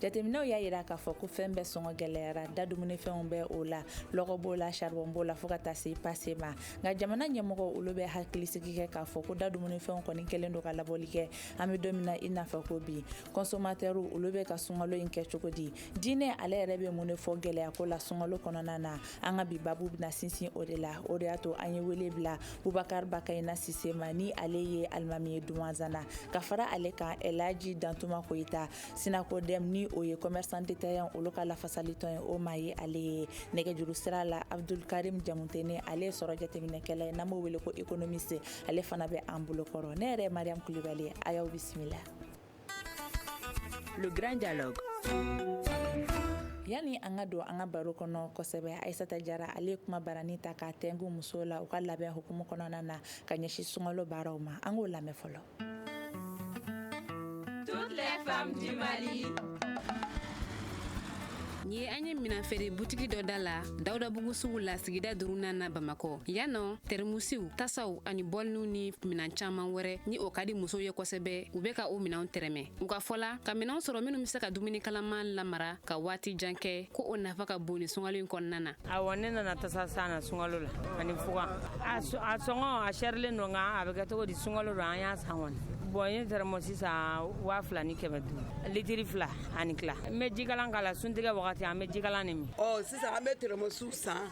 jateminɛw y'a jira k'a fɔ ko fɛn bɛɛ sɔngɔ gɛlɛyara da dumunifɛnw bɛ o la lɔgɔ b'o la saribɔn b'o la fɔɔ ka taa se pase ma nka jamana ɲɛmɔgɔ olu bɛ hakilisigi kɛ k'a fɔ ko da dumunifɛnw kɔni kɛlen don ka labɔli kɛ an be don min na i n'a fɔ ko bi kɔnsomatɛriw olu bɛ ka sungalo in kɛ cogo di diinɛ ale yɛrɛ bɛ mun de fɔ gɛlɛya ko la sungalo kɔnɔna na an ka bi babu bɛna sinsin o de la o de y'a to an ye wele bila bubakar bakayina sise ma ni ale ye alimami ye dumanzana ka fara ale kan elaji dantuma koyita Sinakodɛm ni o ye commerçants détaillants olu ka lafasalitɔn ye o maa ye ale ye nɛgɛjuru sira la abudukarimu jamutɛnɛ ale ye sɔrɔ jateminɛkɛla ye n'an b'o wele ko économiste ale fana bɛ an bolokɔrɔ ne yɛrɛ mariyam kulubali a y'aw bisimila Le Grand Dialogue yanni an ka don an ka baro kɔnɔ kosɛbɛ ayisata jara ale ye kumabaranin ta ka tɛnku muso la u ka labɛn hukumu kɔnɔna na ka ɲɛsin sungalo baaraw ma an k'o lamɛn fɔlɔ Toutes les femmes du Mali. Nin ye an ye minɛnfeere butigi dɔ da la dawudabugu sugu la sigida duurunan na bamakɔ yan nɔ tɛrɛmusiw tasaw ani bɔliniw ni minɛn caman wɛrɛ ni o ka di musow ye kosɛbɛ u bɛ ka o minɛnw tɛrɛmɛ u ka fɔ la ka minɛnw sɔrɔ minnu bɛ se ka dumuni kalaman lamara ka waati jan kɛ ko o nafa ka bon ni sungalo in kɔnɔna na awa ne nana tasa san na sunkalo la ani fugan a sɔngɔ a sɛrilen don nka a bɛ kɛ cogo di sunkalo don an y'a san kɔni bɔn n ye tɛrɛmɔsi san waa fila ni kɛmɛ duuru litiri fila ani tila n bɛ jikalan k'a la suntigɛ wagati an bɛ jikalannin min ɔ sisan an bɛ tɛrɛmɔsiw san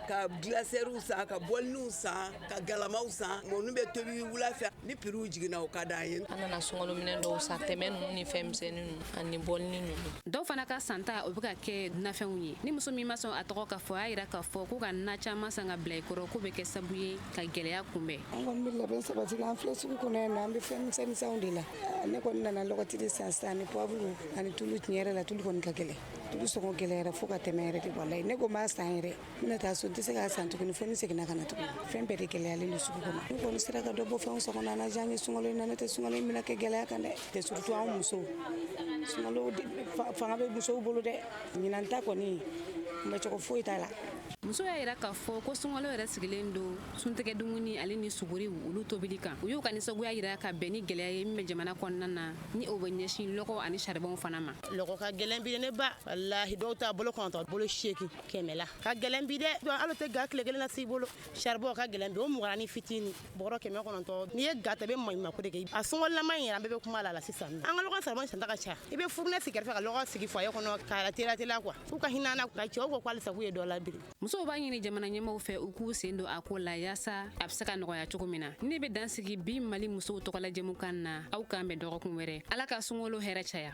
ka gilasɛriw san ka bɔliniw san ka galamaw san mɔni bɛ tobi wula fɛ Ni prix jiginna o ka d'an ye, an nana sunkalo minɛn dɔw san tɛmɛ ninnu ni fɛn misɛnnin ninnu ani bɔlinin ninnu, dɔw fana ka santa o bɛ ka kɛ nafɛnw ye, nin muso min ma sɔn a tɔgɔ ka fɔ, a y'a jira k'a fɔ ko ka na caman san ka bila i kɔrɔ k'o bɛ kɛ sabu ye ka gɛlɛya kunbɛn. An kɔni bɛ labɛn sabati la, an filɛ sugu kɔnɔ yan nɔ, an bɛ fɛn misɛn misɛnw de la, ne kɔni nana lɔgɔti de san sisan ani poivre ani tulu, tiɲɛ yɛrɛ la tulu kɔni ka gɛlɛn, tulu sɔngɔ gɛlɛyara fo ka tɛmɛ yɛrɛ de walayi, ne ko n b'a san yɛrɛ. N bɛ taa so n tɛ se k'a san tuguni fo ni n seginna ka na tuguni fɛn bɛɛ de gɛlɛyalen don sugu kɔnɔ n'u kɔni sera ka dɔ bɔ fɛnw sɔngɔ na a na diya an ye sunkalo in na n'o tɛ sunkalo in bɛna kɛ gɛlɛya kan dɛ tɛ surtout anw musow sunkalo fanga bɛ musow bolo dɛ ɲinan ta kɔni kunbɛn cogo foyi t'a la muso y'a yira k'a fɔ ko sunkalo yɛrɛ sigilen don suntigɛ dumuni ale ni suguriw olu tobili kan u y'u ka nisɔngoya yira ka bɛn ni gɛlɛya ye min bɛ jamana kɔnɔna na ni o bɛ ɲɛsin lɔgɔ ani saribɔnw fana ma lɔgɔ ka gɛlɛn bi ne ba walahi dɔw ta bolo kɔnɔntɔn bolo seegin kɛmɛ la ka gɛlɛn bi dɛ donc hali o tɛ ga tile kelen na s'i bolo saribɔn ka gɛlɛn bi o mugara ni fitini bɔrɔ kɛmɛ kɔnɔntɔn n'i ye ga ta i bɛ maɲumako de kɛ a sɔngɔlama in yɛrɛ an bɛɛ bɛ kuma a la sisan nɔ an ka lɔgɔ saribɔn santa ka ca i bɛ furunɛ sigi kɛrɛfɛ ka lɔgɔ sigi foyer kɔnɔ k'a teliya teliya quoi u ka hin'an na quoi cɛw ko ko halisa k'u ye dɔ labiri musow b'a ɲini jamana ɲɛmaaw fɛ u k'u sen don a ko la yaasa a bɛ se ka nɔgɔya cogo min na nin bɛ dan sigi bi mali musow tɔgɔla jɛmukan na aw k'an bɛn dɔgɔkun wɛrɛ ala ka sunkalo hɛrɛ caya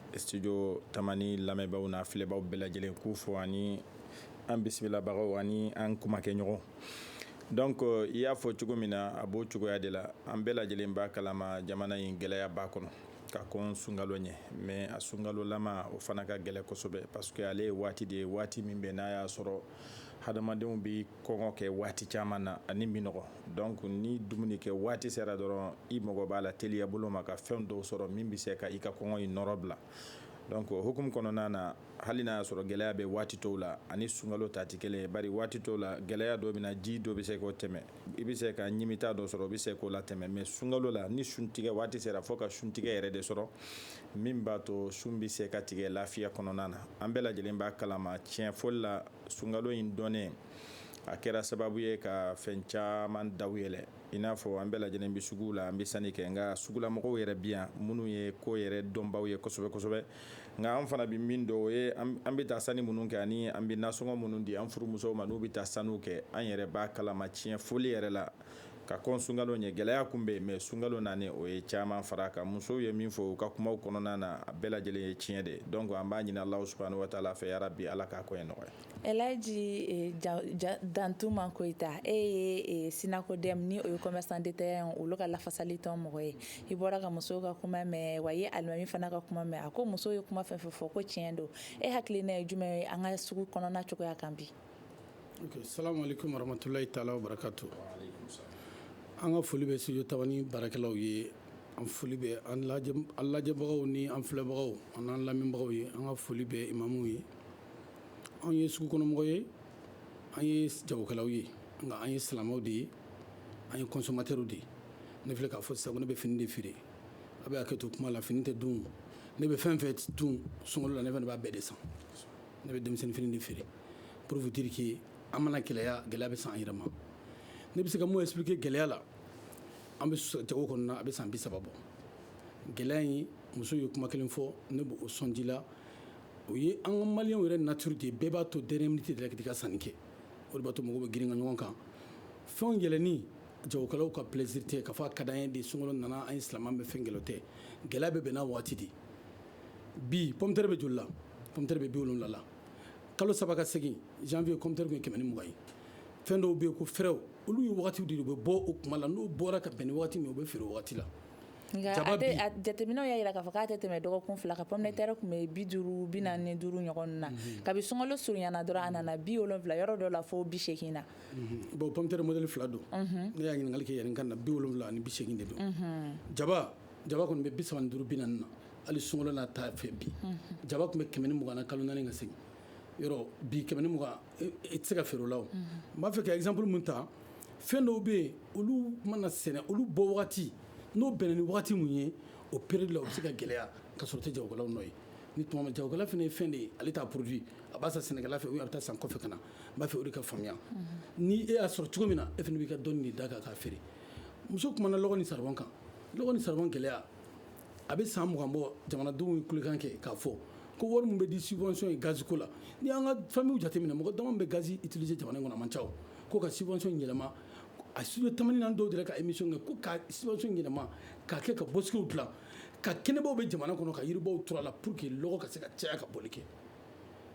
studio tamani lamɛnbaaw n'a filɛbaaw bɛɛ lajɛlen k'u fo ani an bisimilabagaw ani an kumakɛɲɔgɔn donc euh, i y'a fɔ cogo min na a b'o cogoya de la an bɛɛ lajɛlen b'a kalama jamana in gɛlɛyaba kɔnɔ ka kɔn sunkalo ɲɛ mais a sunkalolama o fana ka gɛlɛ kosɛbɛ parce que ale ye waati de ye waati min bɛ n'a y'a sɔrɔ hadamadenw bi kɔngɔ kɛ waati caman na ani minnɔgɔ donc ni dumuni kɛ waati sera dɔrɔn i mago b'a la teliya bolo ma ka fɛn dɔw sɔrɔ min bɛ se ka i ka kɔngɔ in nɔrɔ bila donc o hukumu kɔnɔna na hali n'a y'a sɔrɔ gɛlɛya bɛ waati tɔw la ani sunkalo ta tɛ kelen ye bari waati tɔw la gɛlɛya dɔ bɛ na ji dɔ bɛ se k'o tɛmɛ i bɛ se ka ɲimita dɔ sɔrɔ o bɛ se k'o latɛmɛ mais sunkalo la ni suntigɛ waati sera fo ka suntigɛ yɛrɛ de sɔrɔ min b'a to sun bɛ se ka tigɛ lafiya kɔnɔna na an bɛɛ lajɛlen b'a kalama tiɲɛ fɔli la sunkalo in donnen a kɛra sababu ye ka fɛn caman daw yɛlɛn i n'a fɔ an bɛɛ lajɛlen bɛ sugu la an bɛ sanni kɛ nka sugulamɔgɔw yɛrɛ bi yan minnu ye ko yɛrɛ dɔnbaw ye kosɛbɛ kosɛbɛ nka an fana bɛ min dɔn o ye an bɛ taa sanni minnu kɛ ani an bɛ nasɔngɔ minnu di an furumusow ma n'u bɛ taa sanniw kɛ an yɛrɛ b'a kalama tiɲɛ fɔli yɛrɛ la ka kɔn sunkalo ɲɛ gɛlɛya kun bɛ yen mais sunkalo nani o ye caman fara kan musow ye min fɔ u ka kumaw kɔnɔna na a bɛɛ lajɛlen ye tiɲɛ de donc an b'a ɲini alahu subhanahu wa taala fɛ ya rabi ala k'a koɲɛ nɔgɔya ɛlaji eh, dantuma koyita e ye eh, synacodem ni o ye commerçants détaillants olu ka lafasali tɔn mɔgɔ ye i bɔra ka musow ka kuma mɛn wa i ye alimami fana ka kuma mɛn a ko musow ye kuma fɛn fɛn fɔ ko tiɲɛ don e hakilina ye jumɛn ye an ka sugu kɔnɔna cogoya kan bi Salamalekum waramatulayi taala wa barakatu an ka foli bɛ studio tamani baarakɛlaw ye an foli bɛ an lajɛbagaw ni an filɛbagaw an n'an lamɛnbagaw ye an ka foli bɛ imamu ye anw ye sugu kɔnɔmɔgɔ ye an ye jagokɛlaw ye nka an ye silamɛw de ye an ye consommateurs de ye ne filɛ k'a fɔ sisan ko ne bɛ fini de feere a bɛ hakɛ to kuma la fini tɛ dun ne bɛ fɛn fɛn dun sunkalo la ne fana b'a bɛɛ de san ne bɛ denmisɛnnin fini de feere pour vous dire que a mana gɛlɛya gɛlɛya bɛ se an yɛrɛ ma ne bɛ se ka mun expliquer gɛlɛya la an bɛ jago kɔnɔ a bɛ san bi saba bɔ gɛlɛya in muso ye kuma kelen fɔ ne b'o sɔn ji la o ye an ka maliyɛnw yɛrɛ nature de bɛɛ b'a to dernière minute de la ka sanni kɛ o b'a to mɔgɔw bɛ girin ka ɲɔgɔn kan fɛnw yɛlɛnni jagokɛlaw ka plaisir tɛ k'a fɔ a ka d'an ye de sun nana an ye silamɛ bɛ fɛn kelen tɛ gɛlɛya bɛ bɛn n'a waati de bi pomme de terre bɛ joli la pomme de terre bɛ bi wolonwula la kalo saba ka segin janvier pomme de terre kun ye kɛmɛ ni mugan ye fɛn dɔw bɛ yen ko fɛrɛw olu ye wagatiw de u bɛ bɔ o kuma la n'o bɔra ka bɛn ni wagati min u bɛ feere o wagati la jateminɛw y'a jira k'a fɔ k'a tɛ tɛmɛ dɔgɔkun fila kan pomme de terre tun bɛ bi duuru bi naani ni duuru ɲɔgɔn na mhm. kabi sunkalo surunyana dɔrɔn a nana bi wolonwula yɔrɔ dɔ la fo bi segin na mhm. bon pomme de terre modèle fila don mhm. ne y'a ɲininkali kɛ yɛrɛ ka na bi wolonwula ani bi segin de don jaba jaba kɔni bɛ bi saba ni duuru bi naani na hali sunkalo n'a ta fɛ bi jaba tun bɛ kɛmɛ ni mugan na kalo naani ka segin yɔrɔ bi kɛmɛ ni mugan e, e tɛ se ka feere o la n mm-hmm. b'a fɛ ka exemple mun ta fɛn dɔw bɛ yen olu mana sɛnɛ olu bɔ wagati n'o bɛnna ni wagati mun ye o période la o bɛ se ka gɛlɛya ka sɔrɔ o tɛ jagokɛlaw nɔ ye ni tuma min jagokɛla fana ye fɛn de ye ale t'a produit a b'a san sɛnɛkɛla fɛ ou a bɛ taa san kɔfɛ ka na n b'a fɛ o de ka faamuya mm-hmm. ni e y'a sɔrɔ cogo min na e fana b'i ka dɔnni de da kan k'a feere muso kumana lɔgɔ ni saribɔn kan lɔgɔ ni saribɔn gɛlɛya a bɛ san mugan bɔ jamanadenw ye kulekan kɛ k'a fɔ ko wari min bɛ di subvention ye gazi ko la ni an ka famille jateminɛ mɔgɔ dama bɛ gazi utiliser jamana in kɔnɔ a man ca o ko ka subvention yɛlɛma a studio tamani na an dɔw delila ka émission kɛ ko ka subvention yɛlɛma k'a kɛ ka bosquetw dilan ka kɛnɛbaw bɛ jamana kɔnɔ ka yiribaw turu a la pour que lɔgɔ ka se ka caya ka boli kɛ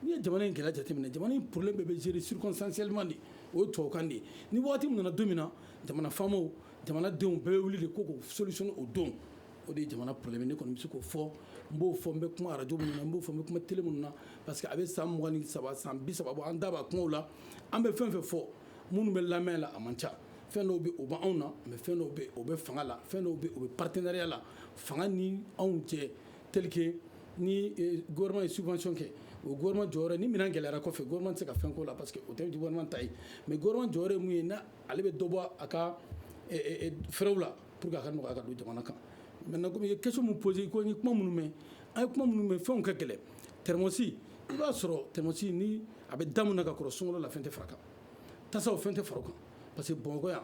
n'i ye jamana in gɛlɛya jateminɛ jamana in problème bɛɛ bɛ gérer circonstanciellement de o ye tubabukan de ye ni waati min nana don min na jamana faamaw jamanadenw bɛɛ bɛ wuli de ko k'o solution o don o de ye jamana problème ne kɔni bɛ se k'o fɔ n b'o fɔ n bɛ kuma arajo min na n b'o fɔ n bɛ kuma tele min na parce que a bɛ san mugan ni saba san bi saba bɔ an da b'a kumaw la an bɛ fɛn fɛn fɔ minnu bɛ lamɛn la a man ca fɛn dɔw bɛ o bɛ anw na mais fɛn dɔw bɛ o bɛ fanga la fɛn dɔw bɛ o bɛ partenariat la fanga ni anw cɛ tel que ni gouvernement ye subvention kɛ o gouvernement jɔyɔrɔ ni minɛn gɛlɛyara kɔfɛ gouvernement tɛ se ka fɛn k'o la parce que o tɛ gouvernement ta ye mais gouvernement jɔyɔrɔ ye mun ye na ale bɛ dɔ bɔ a ka fɛrɛw la pour que a ka nɔgɔya ka don jamana kan maintenant comme i ye question min poser ko ni kuma minnu mɛn an ye kuma minnu mɛn fɛnw ka gɛlɛn tɛrɛmɔsi i b'a sɔrɔ tɛrɛmɔsi ni a bɛ da min na ka kɔrɔ sunkalo la fɛn tɛ fara kan tasaw fɛn tɛ fara kan parce que bamakɔ yan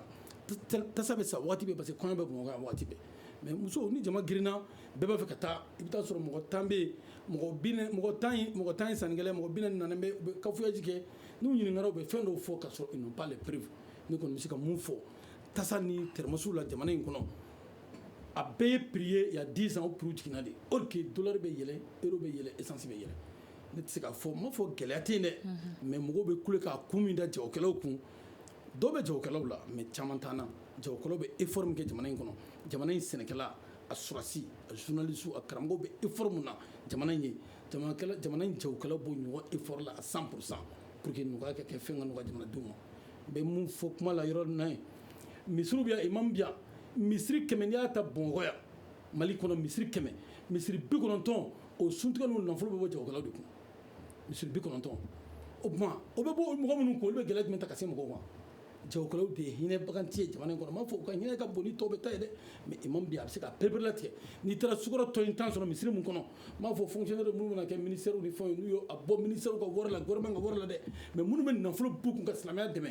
tasa bɛ san waati bɛɛ parce que kɔɲɔ bɛ bamakɔ waati bɛɛ mais muso ni jama girinna bɛɛ b'a fɛ ka taa i bɛ taa sɔrɔ mɔgɔ tan bɛ yen mɔgɔ tan mɔgɔ tan ye sannikɛla mɔgɔ bi naani bɛ u bɛ cafouillage kɛ n'u ɲininkara u bɛ fɛn dɔw fɔ ka sɔrɔ ils ont pas de preuve ne kɔni bɛ se ka mun fɔ tasa ni tɛrɛmɔsiw la jamana in kɔnɔ a bɛɛ ye prix ye il y a dix ans o prix jiginna de or que dollar bɛ yɛlɛ euro bɛ yɛlɛ esansi bɛ yɛlɛ ne tɛ se k'a fɔ n m'a fɔ gɛlɛya tɛ dɛ mais mɔgɔw bɛ kule k'a kun min da jagokɛlaw kun dɔw bɛ jagokɛlaw la mais caman t'an na jagokɛlaw bɛ effort min kɛ jamana in kɔnɔ jamana in sɛnɛkɛla a sɔrɔdasi a journaliste a karamɔgɔ bɛ effort min na jamana in ye jamana in jagokɛlaw b'o ɲɔgɔn effort la à 100 pour cent pour que nɔgɔya ka kɛ fɛn ka nɔgɔya jamanadenw ma n bɛ mun fɔ kuma la yɔrɔ na ye misiriw bɛ yan imam bɛ yan misiri kɛmɛ n'i y'a ta bamakɔ yan mali kɔnɔ misiri kɛmɛ misiri bi kɔnɔntɔn o suntigɛ n'o nafolo bɛ bɔ jagokɛlaw de kun misiri bi kɔnɔntɔn o tuma o bɛ bɔ mɔgɔ minnu kun olu bɛ gɛlɛya jumɛn ta ka se mɔgɔw ma jagokɛlaw de ye hinɛbaganti ye jamana in kɔnɔ n m'a fɔ u ka hinɛ ka bon ni tɔw bɛɛ ta ye dɛ mais imam bi a bɛ se ka pereperelatigɛ n'i taara sukaro tɔni tan sɔrɔ misiri min kɔnɔ n m'a fɔ fonctionnaire minnu bɛna kɛ ministère ni fɛnw n'u ye a bɔ ministère ka wari la gouvernement ka wari la dɛ mais minnu bɛ nafolo b'u kun ka silamɛya dɛmɛ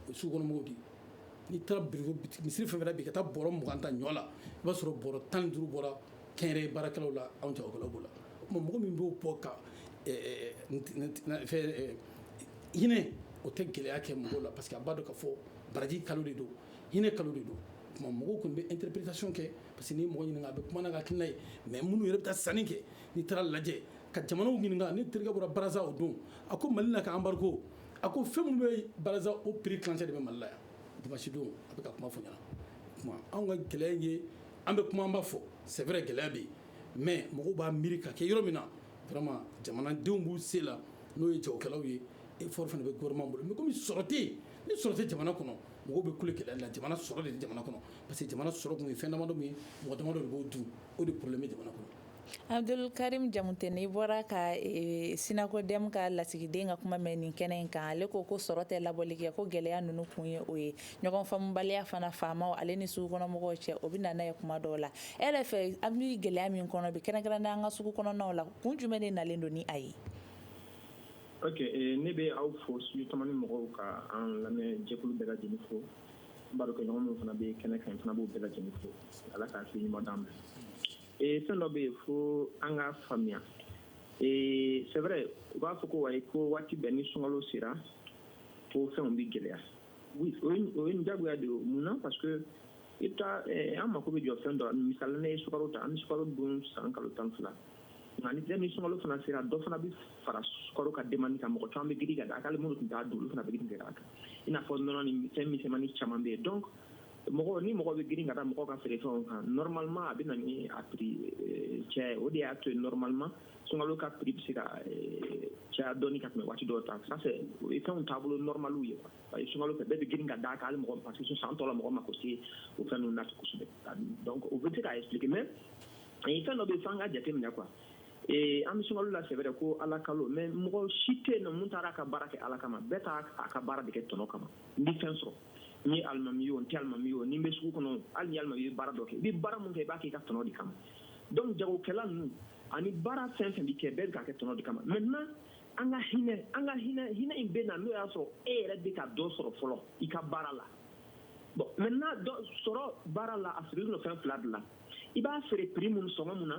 o sugukɔnɔmɔgɔw de n'i taara biriko misiri fɛn fɛn bi ka taa bɔrɔ mugan ta ɲɔ la i b'a sɔrɔ bɔrɔ tan ni duuru bɔra kɛnyɛrɛye baarakɛlaw la anw jagokɛlaw b'o la o tuma mɔgɔ min b'o bɔ ka eh, eh, eh, hinɛ o tɛ gɛlɛya kɛ mɔgɔw la parce que a b'a dɔn ka fɔ baraji kalo de don hinɛ kalo de don tuma mɔgɔw kɔni bɛ interprétation kɛ parce que ni mɔgɔ ɲininka a bɛ kuma n'a ka hakilina ye mais minnu yɛrɛ bɛ taa sanni kɛ n'i taara lajɛ ka jamanaw ɲininka ne terikɛ bɔra Brazza o don a ko mali la ka embargo a ko fɛn minnu bɛ Brazza o prix kilancɛ de bɛ mali la yan dimanche don a bɛ ka kuma fɔ n ɲɛna tuma anw ka gɛlɛya ye an bɛ kuma an b'a fɔ c'est vrai gɛlɛya bɛ yen mais mɔgɔw b'a miiri ka kɛ yɔrɔ min na vraiment jamanadenw b'u se la n'o ye jagokɛlaw ye effort fana bɛ gouvernement bolo mais komi sɔrɔ tɛ yen ni sɔrɔ tɛ jamana kɔnɔ mɔgɔw bɛ kule kɛlɛ la jamana sɔrɔ de tɛ jamana kɔnɔ parce que jamana sɔrɔ tun ye fɛn damadɔ min ye mɔgɔ damadɔ de b'o dun o de problème bɛ jamana kɔnɔ Abdul Karim Jamutene i bɔra ka e, eh, SYNACODEM ka lasigiden ka kuma mɛn nin kɛnɛ in kan ale ko ko sɔrɔ tɛ labɔli kɛ ko gɛlɛya ninnu kun ye o ye ɲɔgɔn faamubaliya fana faamaw ale ni sugukɔnɔmɔgɔw cɛ o bɛ na n'a ye kuma dɔw la e yɛrɛ fɛ an bɛ gɛlɛya min kɔnɔ bi kɛrɛnkɛrɛnnenya an ka sugu kɔnɔnaw la kun jumɛn de nalen don ni a ye ok eh, ne bɛ aw fo studio tamani mɔgɔw ka an lamɛn jɛkulu bɛɛ lajɛlen fo n barokɛɲɔgɔn minnu fana bɛ kɛnɛ kan fana n b'u bɛɛ lajɛlen fo ala k'a se ɲuman d'an ma eh, fɛn dɔ bɛ yen fo an ka faamuya eh, c'est vrai u b'a fɔ ko wayi ko waati bɛɛ ni sunkalo sera ko fɛnw bɛ gɛlɛya Oui, o ye o ye diyagoya de ye o mun na parce que i bɛ taa eh, an mako bɛ jɔ fɛn dɔ la misali la ne ye sukaro ta an bɛ sukaro dun san kalo tan fila nka ni ni sunkalo fana sera dɔ fana bɛ fara sukaro ka demande kan mɔgɔ caman bɛ girin ka da a kan hali minnu tun t'a dun olu fana bɛ girin ka da a kan i n'a fɔ nɔnɔ ni fɛn misɛnmani caman bɛ yen donc mɔgɔ ni mɔgɔ bɛ girin ka da mɔgɔ ka feerefɛnw kan normalement a bɛ na ni a prix eh, caya ye o de y'a to yen normalement sunkalo ka prix bɛ se ka eh, caya dɔɔni ka tɛmɛ waati dɔw ta ça c'est o ye fɛnw taabolo normaliw ye quoi parce que sunkalo fɛ bɛɛ bɛ girin ka d'a kan hali mɔgɔ parce que san tɔ la mɔgɔ mako tɛ o fɛn ninnu na kosɛbɛ donc o bɛ se k'a expliquer mais eh, fɛn dɔ bɛ yen f'an ka jateminɛ quoi ee an bɛ sunkalo la c'est vrai ko ala kalo mais mɔgɔ si tɛ yen nɔ mun taara a ka baara kɛ ala kama bɛɛ taa a ka baara de kɛ tɔnɔ kama n bɛ fɛn sɔrɔ n ye alimami ye o n tɛ alimami ye o ni n bɛ sugu kɔnɔ hali ni alimami ye baara dɔ kɛ i bɛ baara min kɛ i b'a kɛ i ka tɔnɔ de kama donc jagokɛla ninnu ani baara fɛn fɛn bɛ kɛ bɛɛ k'a kɛ tɔnɔ de kama maintenant an ka hinɛ an ka hinɛ hinɛ in bɛ na n'o y'a sɔrɔ e yɛrɛ bɛ ka dɔ sɔrɔ fɔlɔ i ka baara la bon maintenant sɔrɔ baara la a sirilen don fɛn fila de la i b'a feere prix minnu sɔngɔ min na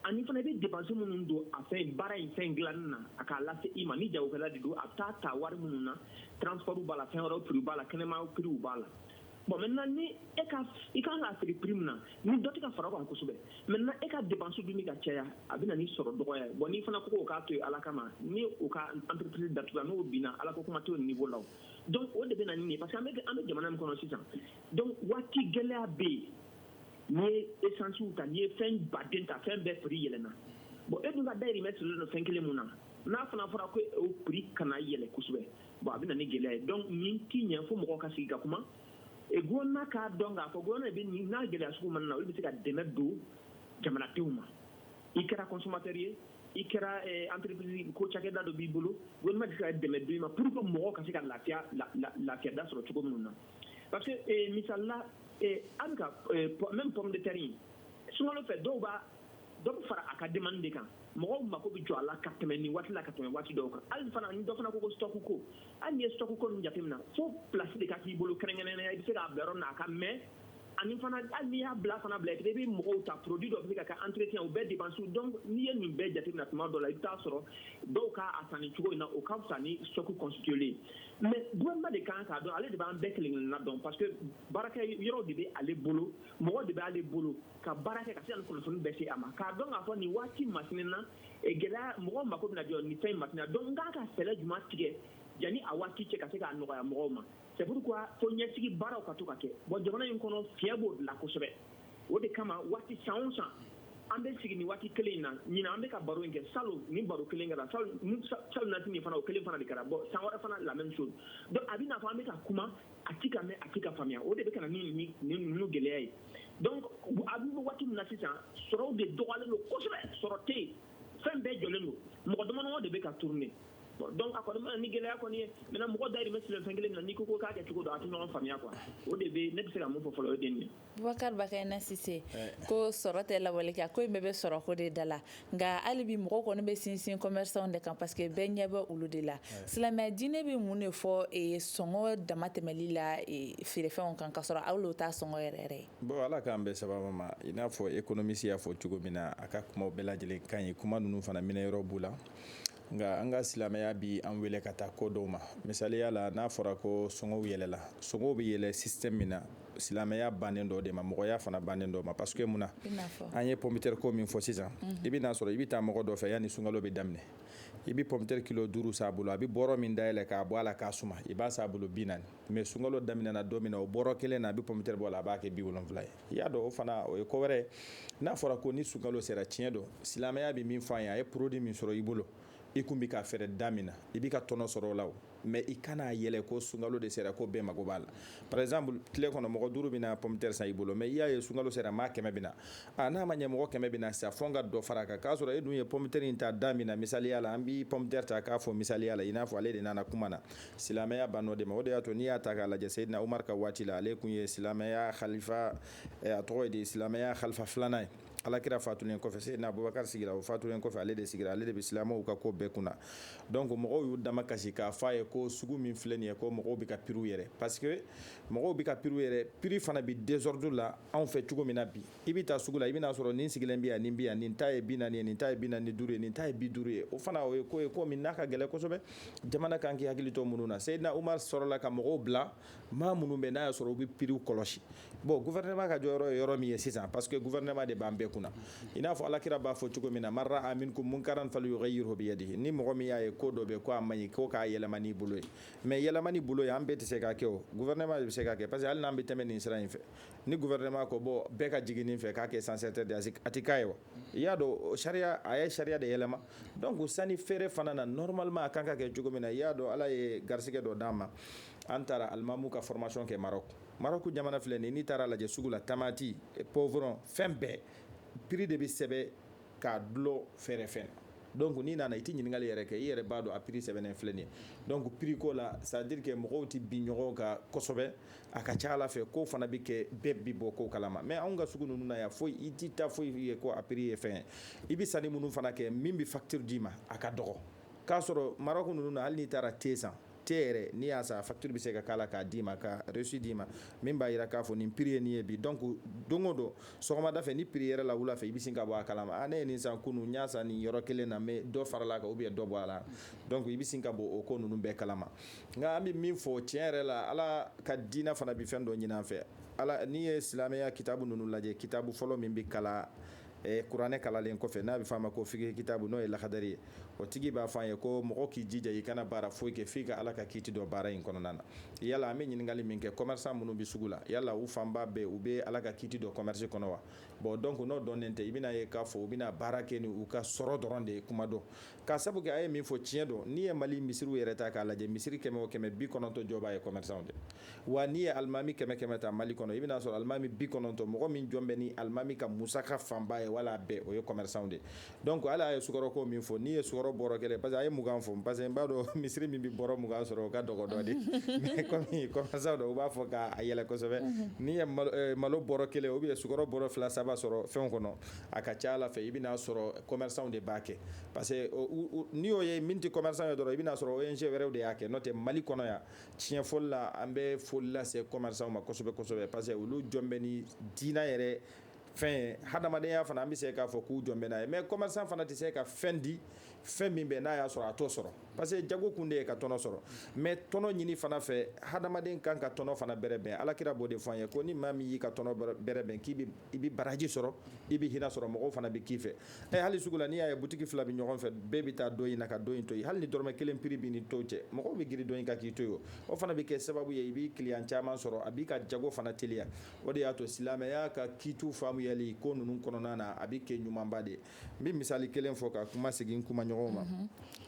ani fana i bɛ dépense minnu don a fɛn baara in fɛn dilanni na a k'a lase i ma ni jagokɛla de don a taa ta wari minnu na transport b'a la fɛn wɛrɛw b'a la kɛnɛma prix b'a la bon maintenant ni e ka i kan k'a feere prix min na ni dɔ tɛ ka fara o kan kosɛbɛ maintenant e ka dépense dun bɛ ka caya a bɛ na ni sɔrɔ dɔgɔya ye bon n'i fana ko k'o k'a to yen ala kama ni o ka entreprise datugula n'o binna ala ko kuma t'o niveau la o donc o de bɛ na ni nin ye parce que an bɛ an bɛ jamana min kɔnɔ sisan donc waati gɛlɛya bɛ yen n'i ye essence ta n'i ye fɛn baden ta fɛn bɛɛ prix yɛlɛnna bon e dun ka dayirimɛ sirilen don fɛn kelen min na n'a fana fɔra ko o prix kana yɛlɛn kosɛbɛ bon a bɛ na ni gɛlɛya ye donc nin tɛ ɲɛ fo mɔgɔw ka sigi ka kuma e gouvernement k'a dɔn k'a fɔ gouvernement bɛ nin n'a gɛlɛya sugu mana na olu bɛ se ka dɛmɛ don jamanadenw ma i kɛra consommateur ye i kɛra eh, entreprise ko cakɛda dɔ b'i bolo gouvernement bɛ se ka dɛmɛ don i ma pour que mɔgɔw ka se ka lafiya lafiyada sɔrɔ cogo minnu na parce que eh, misali la eh, an ka eh, même pomme de terre in sunkalo fɛ dɔw b'a dɔ bɛ fara a ka demande de kan mɔgɔw mako bɛ jɔ a la ka tɛmɛ nin waati la ka tɛmɛ waati dɔw kan hali fana ni dɔ fana ko ko stock ko hali n'i ye stock ko ninnu jateminɛ fo place de ka k'i bolo kɛrɛnkɛrɛnnenya i bɛ se k'a bila yɔrɔ min na a ka mɛɛn ani fana hali n'i y'a bila fana bila i bɛ mɔgɔw ta produit dɔ bɛ se ka kɛ entretien o bɛɛ dépense donc n'i ye nin bɛɛ jateminɛ tuma dɔ la i bɛ t'a sɔrɔ dɔw k'a san nin cogo in na o ka fisa ni stock constituer mais gouvernement de kan k'a dɔn ale de b'an bɛɛ kelen kelenna dɔn parce que baarakɛ yɔrɔ de bɛ ale bolo mɔgɔ de b'ale bolo ka baara kɛ ka se ka nin kunnafoni bɛɛ se a ma k'a dɔn k'a fɔ nin waati masina na eh, gɛlɛya mɔgɔw mako bɛna jɔ nin fɛn masina donc n ka kan ka fɛɛrɛ juma tigɛ yanni a waati cɛ ka se k'a nɔgɔya mɔgɔw ma c'est pourquoi fo ɲɛsigi baaraw ka to ka kɛ bon jamana in kɔnɔ fiɲɛ b'o de la kosɛbɛ o de kama waati san o san an bɛ sigi nin waati kelen in na ɲinan an bɛ ka baro in kɛ salon nin baro kelen kɛra salonnasini fana o kelen fana de kɛra bon san wɛrɛ fana la même chose donc a bɛ n'a fɔ an bɛ ka kuma a ti ka mɛn a ti ka faamuya o de bɛ ka na ni ni ninnu gɛlɛya ye donc an bɛ waati min na sisan sɔrɔw de dɔgɔyalen don kosɛbɛ sɔrɔ tɛ yen fɛn bɛɛ jɔlen don mɔgɔ damadama de bɛ ka tourner donc a kɔni bɛ na ni gɛlɛya kɔni ye maintenant mɔgɔ dayirimɛ sirilen fɛn kelen min na n'i ko ko k'a kɛ cogo dɔ a tɛ ɲɔgɔn faamuya quoi o de bɛ ne bɛ se ka min fɔ fɔlɔ o ye nin ye Bubakari Bakayina Sise ko sɔrɔ tɛ lawale kɛ ko in bɛɛ bɛ sɔrɔ ko de da la nka hali bi mɔgɔw kɔni bɛ sinsin commerçantw de kan parce que bɛɛ ɲɛ bɛ olu de la silamɛ diinɛ bɛ mun de fɔ sɔngɔ damatɛmɛli la feerefɛnw kan k'a sɔrɔ hali o t'a sɔngɔ yɛrɛ yɛrɛ ye bon ala k'an bɛn sawaba ma i n'a fɔ économiste y'a fɔ cogo min na a ka kumaw bɛɛ lajɛlen ka ɲi kuma ninnu fana minɛ yɔrɔ b'u la nka an ka silamɛya bi an wele ka taa ko dɔw ma misaliya la n'a fɔra ko sɔngɔw yɛlɛla sɔngɔw bɛ yɛlɛ système min na silamɛya bannen dɔ de ma mɔgɔya fana bannen dɔ ma parce que mun na an ye pomme terre ko min fɔ sisan mhm. i bɛ n'a sɔrɔ i bɛ taa mɔgɔ dɔ fɛ yanni sunkalo bɛ daminɛ i bɛ pomme terre kilo duuru san a bolo a bɛ bɔrɔ min dayɛlɛ k'a bɔ a la k'a suma i b'a san a bolo bi naani mais sunkalo daminɛna don min na o bɔrɔ kelen na a bɛ pomitɛri bɔ a la a b'a kɛ bi wolonwula ye i y'a dɔn o fana o ye ko wɛrɛ ye n'a fɔra ko ni sunkalo sera tiɲɛ don silamɛya bɛ min fɔ an ye a ye produit min sɔrɔ i bolo i kun bi k'a feere da min na i bi ka tɔnɔ sɔrɔ o la o mais i kana a yɛlɛ ko sunkalo de sera ko bɛɛ mago b'a la par exemple tile kɔnɔ mɔgɔ duuru bɛna pomtɛri san i bolo mais i y'a ye sunkalo sera maa kɛmɛ bɛna a n'a ma ɲɛ mɔgɔ kɛmɛ bɛna sa fɔ n ka dɔ fara a kan k'a sɔrɔ e dun ye pomtɛri in ta da min na misaliya la an bi pomtɛri ta k'a fɔ misaliya la i n'a fɔ ale de nana kuma na silamɛya bann'o de ma o de y'a to n'i y'a ta k'a lajɛ seyidina umar ka waati la ale kun ye silamɛya khalifa eh, a tɔgɔ ye di silamɛya khalifa filanan ye alakira fatulen kɔfɛ seyidina abubakar sigira o fatulen kɔfɛ ale de sigira ale de bɛ silamɛw ka ko bɛɛ kunna donc mɔgɔw y'u dama kasi k'a fɔ a ye ko sugu min filɛ nin ye ko mɔgɔw bɛ ka piriw yɛrɛ parce que mɔgɔw bɛ ka piriw yɛrɛ piri fana bi désordre la anw fɛ cogo min na bi i bɛ taa sugu la i bɛna a sɔrɔ nin sigilen bɛ yan nin bɛ yan nin ta ye bi naani ye nin ta ye bi naani ni duuru ye nin ta ye bi duuru ye o fana o ye ko ye ko min n'a ka gɛlɛn kosɛbɛ jamana kan k'i hakili to minnu na seyidina umar sɔrɔla ka mɔgɔw bila maa minnu bɛ n'a y'a sɔrɔ u bɛ piriw kɔlɔsi bon gouvernement ka jɔyɔrɔ ye yɔrɔ min ye sisan parce que gouvernement de b'an bɛɛ kunna i n'a fɔ alakira b'a fɔ cogo min na man ra'a minkum munkaran falyughayyirhu biyadihi ni mɔgɔ min y'a ye ko dɔ bɛ ko a man ɲi ko k'a yɛlɛma n'i bolo ye mais yɛlɛma n'i bolo ye an bɛɛ tɛ se k'a kɛ o gouvernement de bɛ se k'a kɛ parce que hali n'an bɛ tɛmɛ nin sira in fɛ ni gouvernement ko bon bɛɛ ka jigin nin fɛ k'a kɛ sens interdit a tɛ k'a ye wa i y'a dɔn sariya a ye sariya de yɛlɛma donc sanni feere fana na normalement a kan ka kɛ cogo min na i y'a dɔn ala ye garisigɛ dɔ d'an ma an taara alimamu ka formation kɛ Maroc Maroc jamana filɛ nin n'i taara lajɛ sugu la tamati poivron fɛn bɛɛ prix de bɛ sɛbɛn k'a dulon feerefɛn donc n'i nana i tɛ ɲininkali yɛrɛ kɛ i yɛrɛ b'a dɔn a prix sɛbɛnnen filɛ nin ye donc prix ko la c'est à dire que mɔgɔw tɛ bin ɲɔgɔn kan kosɛbɛ a ka ca a la fɛ ko fana bɛ kɛ bɛɛ bi bɔ ko kalama mais anw ka sugu ninnu na yan foyi i tɛ taa foyi ye ko a prix ye fɛn ye i bɛ sanni minnu fana kɛ min bɛ facture d'i ma a ka dɔgɔ k'a sɔrɔ Maroc ninnu na hali n'i taara te san te yɛrɛ n'i y'a san facture bɛ se ka k'a la k'a d'i ma ka reçu d'i ma min b'a jira k'a fɔ nin prix ye nin ye bi donc don o don sɔgɔmada fɛ ni prix yɛrɛla wula fɛ i bɛ sin ka bɔ a kalama a ah, ne ye nin san kunun n y'a san nin yɔrɔ kelen na mais dɔ farala a kan ou bien dɔ bɔ a la donc i bɛ sin ka bɔ o ko ninnu bɛɛ kalama nka an bɛ min fɔ tiɲɛ yɛrɛ la ala ka diinɛ fana bɛ fɛn dɔ ɲini an fɛ ala n'i ye silamɛya kitabu ninnu lajɛ kitabu fɔlɔ min bɛ kalan e kuranɛ kalalen kɔfɛ n'a bɛ f'a ma ko fiqh kitabu n'o ye lahadari ye o tigi b'a fɔ an ye ko mɔgɔ k'i jija i kana baara foyi kɛ f'i ka ala ka kiiti dɔn baara in kɔnɔna na yala an bɛ ɲininkali min kɛ commerçant minnu bɛ sugu la yala u fanba bɛɛ u bɛ ala ka kiiti dɔn commerce kɔnɔ wa bon donc n'o dɔnnen tɛ i bɛna ye k'a fɔ u bɛna baara kɛ ni u ka sɔrɔ dɔrɔn de ye kuma dɔ K'a sabu kɛ a ye min fɔ tiɲɛ don n'i ye mali misiriw yɛrɛ ta k'a lajɛ misiri kɛmɛ o kɛmɛ bi kɔnɔntɔn jɔbaa ye commerçant de wa n'i ye alimami kɛmɛ kɛmɛ ta mali kɔnɔ i bɛn'a sɔrɔ alimami bi kɔnɔntɔn mɔgɔ min jɔn bɛ ni alimami ka musaka fanba ye wala bɛɛ o ye commerçant de donc ale ye sukɔrɔko min fɔ n'i ye sukɔrɔ bɔrɔ kelen parce que a ye mugan fɔ parce que n b'a dɔn misiri min bɛ bɔrɔ mugan sɔrɔ o ka dɔgɔ dɔɔni mais komi commerçant don u b'a fɔ k'a yɛlɛ kosɛbɛ n'i ye malo bɔrɔ kelen ou bien sukɔrɔ bɔrɔ fila saba sɔrɔ fɛn kɔnɔ a ka ca a la fɛ i bɛn'a sɔrɔ commerçant de b'a kɛ parce que n'i y'o ye min tɛ commerçant ye dɔrɔn i bɛn'a sɔrɔ ONG wɛrɛw de y'a kɛ n'o tɛ mali kɔnɔ yan tiɲɛ fɔli la an bɛ foli lase commerçant ma kosɛbɛ kosɛbɛ parce que olu jɔn bɛ ni diinɛ yɛrɛ fɛn hadamadenya fana an bɛ se k'a fɔ k'u jɔn bɛ n'a ye mais commerçant fana tɛ se ka fɛn di fɛn min bɛ n'a y'a sɔrɔ a t'o sɔrɔ parce que jago kun de ye ka tɔnɔ sɔrɔ mais tɔnɔ ɲini fana fɛ hadamaden kan ka tɔnɔ fana bɛrɛ bɛn ala kira b'o de fɔ an ye ko ni maa min y'i ka tɔnɔ bɛrɛ bɛn k'i i bɛ baraji sɔrɔ i bɛ hinɛ sɔrɔ mɔgɔw fana bɛ k'i fɛ ɛ hali sugu la n'i y'a ye butigi fila bɛ ɲɔgɔn fɛ bɛɛ bɛ taa dɔ in na ka dɔ in to yen hali ni dɔrɔmɛ kelen piri b'i ni tɔ cɛ mɔgɔw bɛ girin dɔ in kan k'i to yen o fana bɛ kɛ sababu ye i b'i kiliyan caman sɔrɔ a b'i ka jago fana teliya o de y'a to silamɛya ka kiitu faamuyali ko ninnu kɔnɔna na a bɛ kɛ ɲumanba de ye n bɛ misali kelen fɔ ka kuma segin kuma ɲɔgɔn ma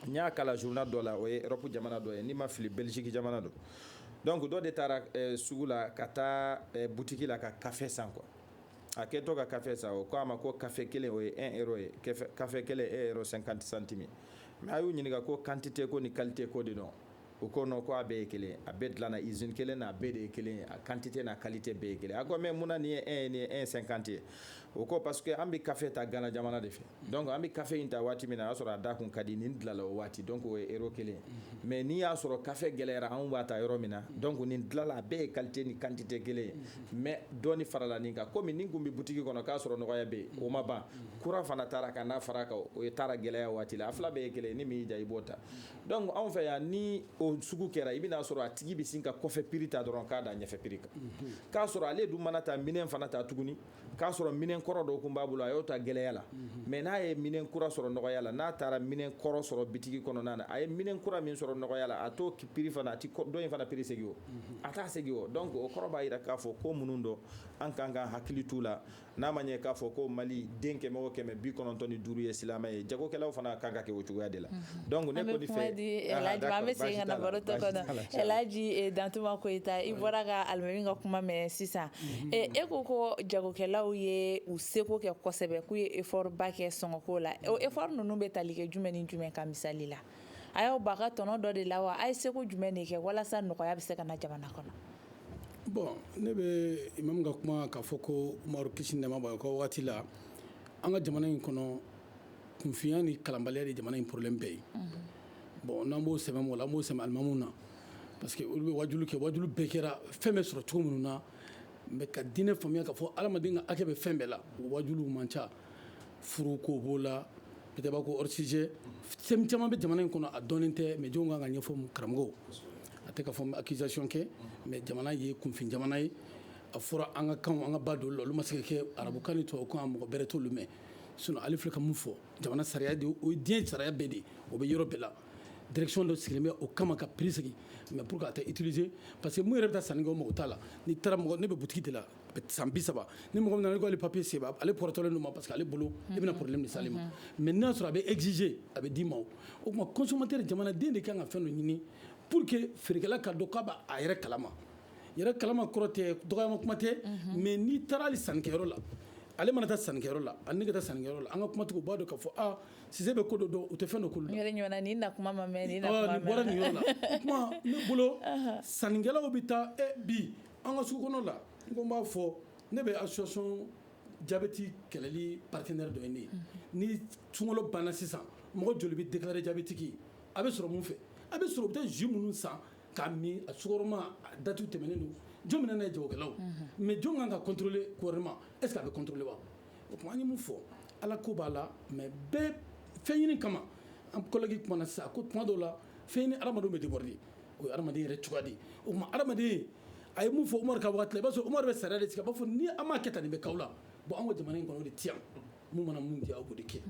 n y'a kalan journal dɔ la o ye Europe jamana dɔ ye ni n ma fili Belgique jamana don donc dɔ de taara eh, sugu la ka taa eh, butiki la ka kafe san quoi a kɛtɔ ka kafe san o ko a ma ko kafe kelen o ye 1 euro ye kafe kelen 1 euro 50 centime mais a y'u ɲininka ko quantité ko ni qualité ko de don u ko non ko a bɛɛ ye kelen a bɛɛ dilanna usine kelen na a bɛɛ de ye kelen a quantité n'a qualité bɛɛ ye kelen a ko mais mun na nin ye 1 ye nin ye 1 50 ye o ko parce que an bɛ kafe ta gana jamana de fɛ donc an bɛ kafe in ta waati min na a y'a sɔrɔ a da kun ka di nin dilala o waati donc o ye euro kelen mhm. mais n'i y'a sɔrɔ kafe gɛlɛyara anw b'a ta yɔrɔ min na mhm. donc nin dilala a bɛɛ ye qualité ni quantité kelen ye mhm. mais dɔɔni farala nin kan komi nin kun bɛ butigi kɔnɔ k'a sɔrɔ nɔgɔya bɛ yen o ma ban kura fana tara ka n'a fara kan o ye tara gɛlɛya waati la a fila bɛɛ ye kelen ni min y'i diya i b'o ta donc anw fɛ yan ni o sugu kɛra i bɛn'a sɔrɔ a tigi bɛ sin ka kɔfɛ piri ta dɔrɔn k'a da ɲɛfɛ piri kan k'a sɔrɔ ale dun mana taa minɛn fana ta tuguni k'a sɔrɔ minɛn kɔrɔ dɔ kun b'a bolo a y'o ta gɛlɛya la mais n'a ye minɛn kura sɔrɔ nɔgɔya la n'a taara minɛn kɔrɔ sɔrɔ bitigi kɔnɔna na a ye minɛn kura min sɔrɔ nɔgɔya la a t'o piri fana a tɛ dɔ in fana piri segin o a t'a segin o donc o kɔrɔ b'a jira k'a fɔ ko minnu don an ka kan ka hakili t'u la n'a ma ɲɛ k'a fɔ ko mali den kɛmɛ kɛmɛ bi kɔnɔntɔn ni duuru ye silamɛ ye jagokɛlaw fana kan ka kɛ o cogoya de la donc ne kɔni fɛ an bɛ kuma di Elhaji ma an bɛ segin ka na baro tɔ kɔnɔ Elhaji Dantuma Koyita i bɔra ka alimami ka kuma mɛn sisan e ko ko jagokɛlaw ye u seko kɛ kosɛbɛ k'u ye effort ba kɛ sɔngɔko la o effort ninnu bɛ tali kɛ jumɛn ni jumɛn kan misali la a y'aw ba ka tɔnɔ dɔ de la wa a ye seko jumɛn de kɛ walasa nɔgɔya bɛ se ka na jamana kɔnɔ bon ne bɛ imamu ka kuma k'a fɔ ko Umaru kisi nɛɛma b'a ye ka waati la an ka jamana in kɔnɔ kunfinya ni kalanbaliya de jamana in problème bɛɛ ye bon n'an b'o sɛmɛ la an b'o sɛmɛ alimamuw na parce que olu bɛ wajulu kɛ wajulu bɛɛ kɛra fɛn bɛ sɔrɔ cogo minnu na mais ka diinɛ faamuya k'a fɔ adamaden ka hakɛ bɛ fɛn bɛɛ la o wajulu man ca furu ko b'o la peut-être b'a ko hors sujet fɛn caman bɛ jamana in kɔnɔ a dɔnnen tɛ mais jɔn kan ka ɲɛfɔ karamɔgɔw a tɛ ka fɔ accusation kɛ mais jamana ye kunfin jamana ye a fɔra an ka kan an ka ba don la olu ma se ka kɛ arabukan ni tubabukan a mɔgɔ bɛrɛ t'olu mɛn sinon ale filɛ ka mun fɔ jamana sariya de o diɲɛ sariya bɛɛ de o bɛ yɔrɔ bɛɛ la direction dɔ sigilen bɛ o kama ka prix sigi mais pour que a tɛ utiliser pa parce que mun yɛrɛ bɛ taa sanni kɛ mɔgɔ t'a la ni taara mɔgɔ ne bɛ boutique de la san bi saba ni mɔgɔ nana k'ale papier se ale ptɔlen don ma parce que ale bolo i bɛna problème de s'ale ma mais n'a sɔrɔ a bɛ exiger a bɛ d'i ma o tuma consommateur jamanaden de kan ka fɛn dɔ ɲini pour que feerekɛla ka dɔn k'a b'a yɛrɛ kalama yɛrɛ kalama kɔrɔ tɛ dɔgɔyama kuma tɛ mais n'i taara sannikɛyɔrɔ la ale mana taa sannikɛyɔrɔ la ani ne ka taa sannikɛyɔrɔ la an ka kumatigiw b'a dɔn k'a fɔ aaa Cissé bɛ ko dɔn u tɛ fɛn dɔ bɔra yɔrɔ la o tuma ne bolo sannikɛlaw bɛ taa bi an ka sugu kɔnɔ la n ko n b'a fɔ ne bɛ association jabɛti kɛlɛli partenaire dɔ ye ne ye ni sunkalo banna sisan mɔgɔ joli bɛ déclarer diabétique a bɛ sɔrɔ mun fɛ a bɛ sɔrɔ u bɛ taa jus minnu san k'a min a sukaroma date tɛmɛnen don jɔn bɛ na n'a ye jagokɛlaw mais jɔn kan ka contrôler gouvernement est ce que a bɛ contrôler wa o tuma an ye mun fɔ ala ko b'a la mais bɛɛ fɛn ɲini kama an collègue kumana sisan a ko tuma dɔw la fɛn ɲini hadamadenw bɛ déborder o ye adamaden yɛrɛ cogoya de ye o tuma adamaden a ye mun fɔ Umaru ka waati la i b'a sɔrɔ Umaru bɛ sariya de sigi a b'a fɔ ni an m'a kɛ tan nin bɛ k'aw la bon anw ka jamana in kɔnɔ o de tɛ yan mun mana mun diya aw b'o de kɛ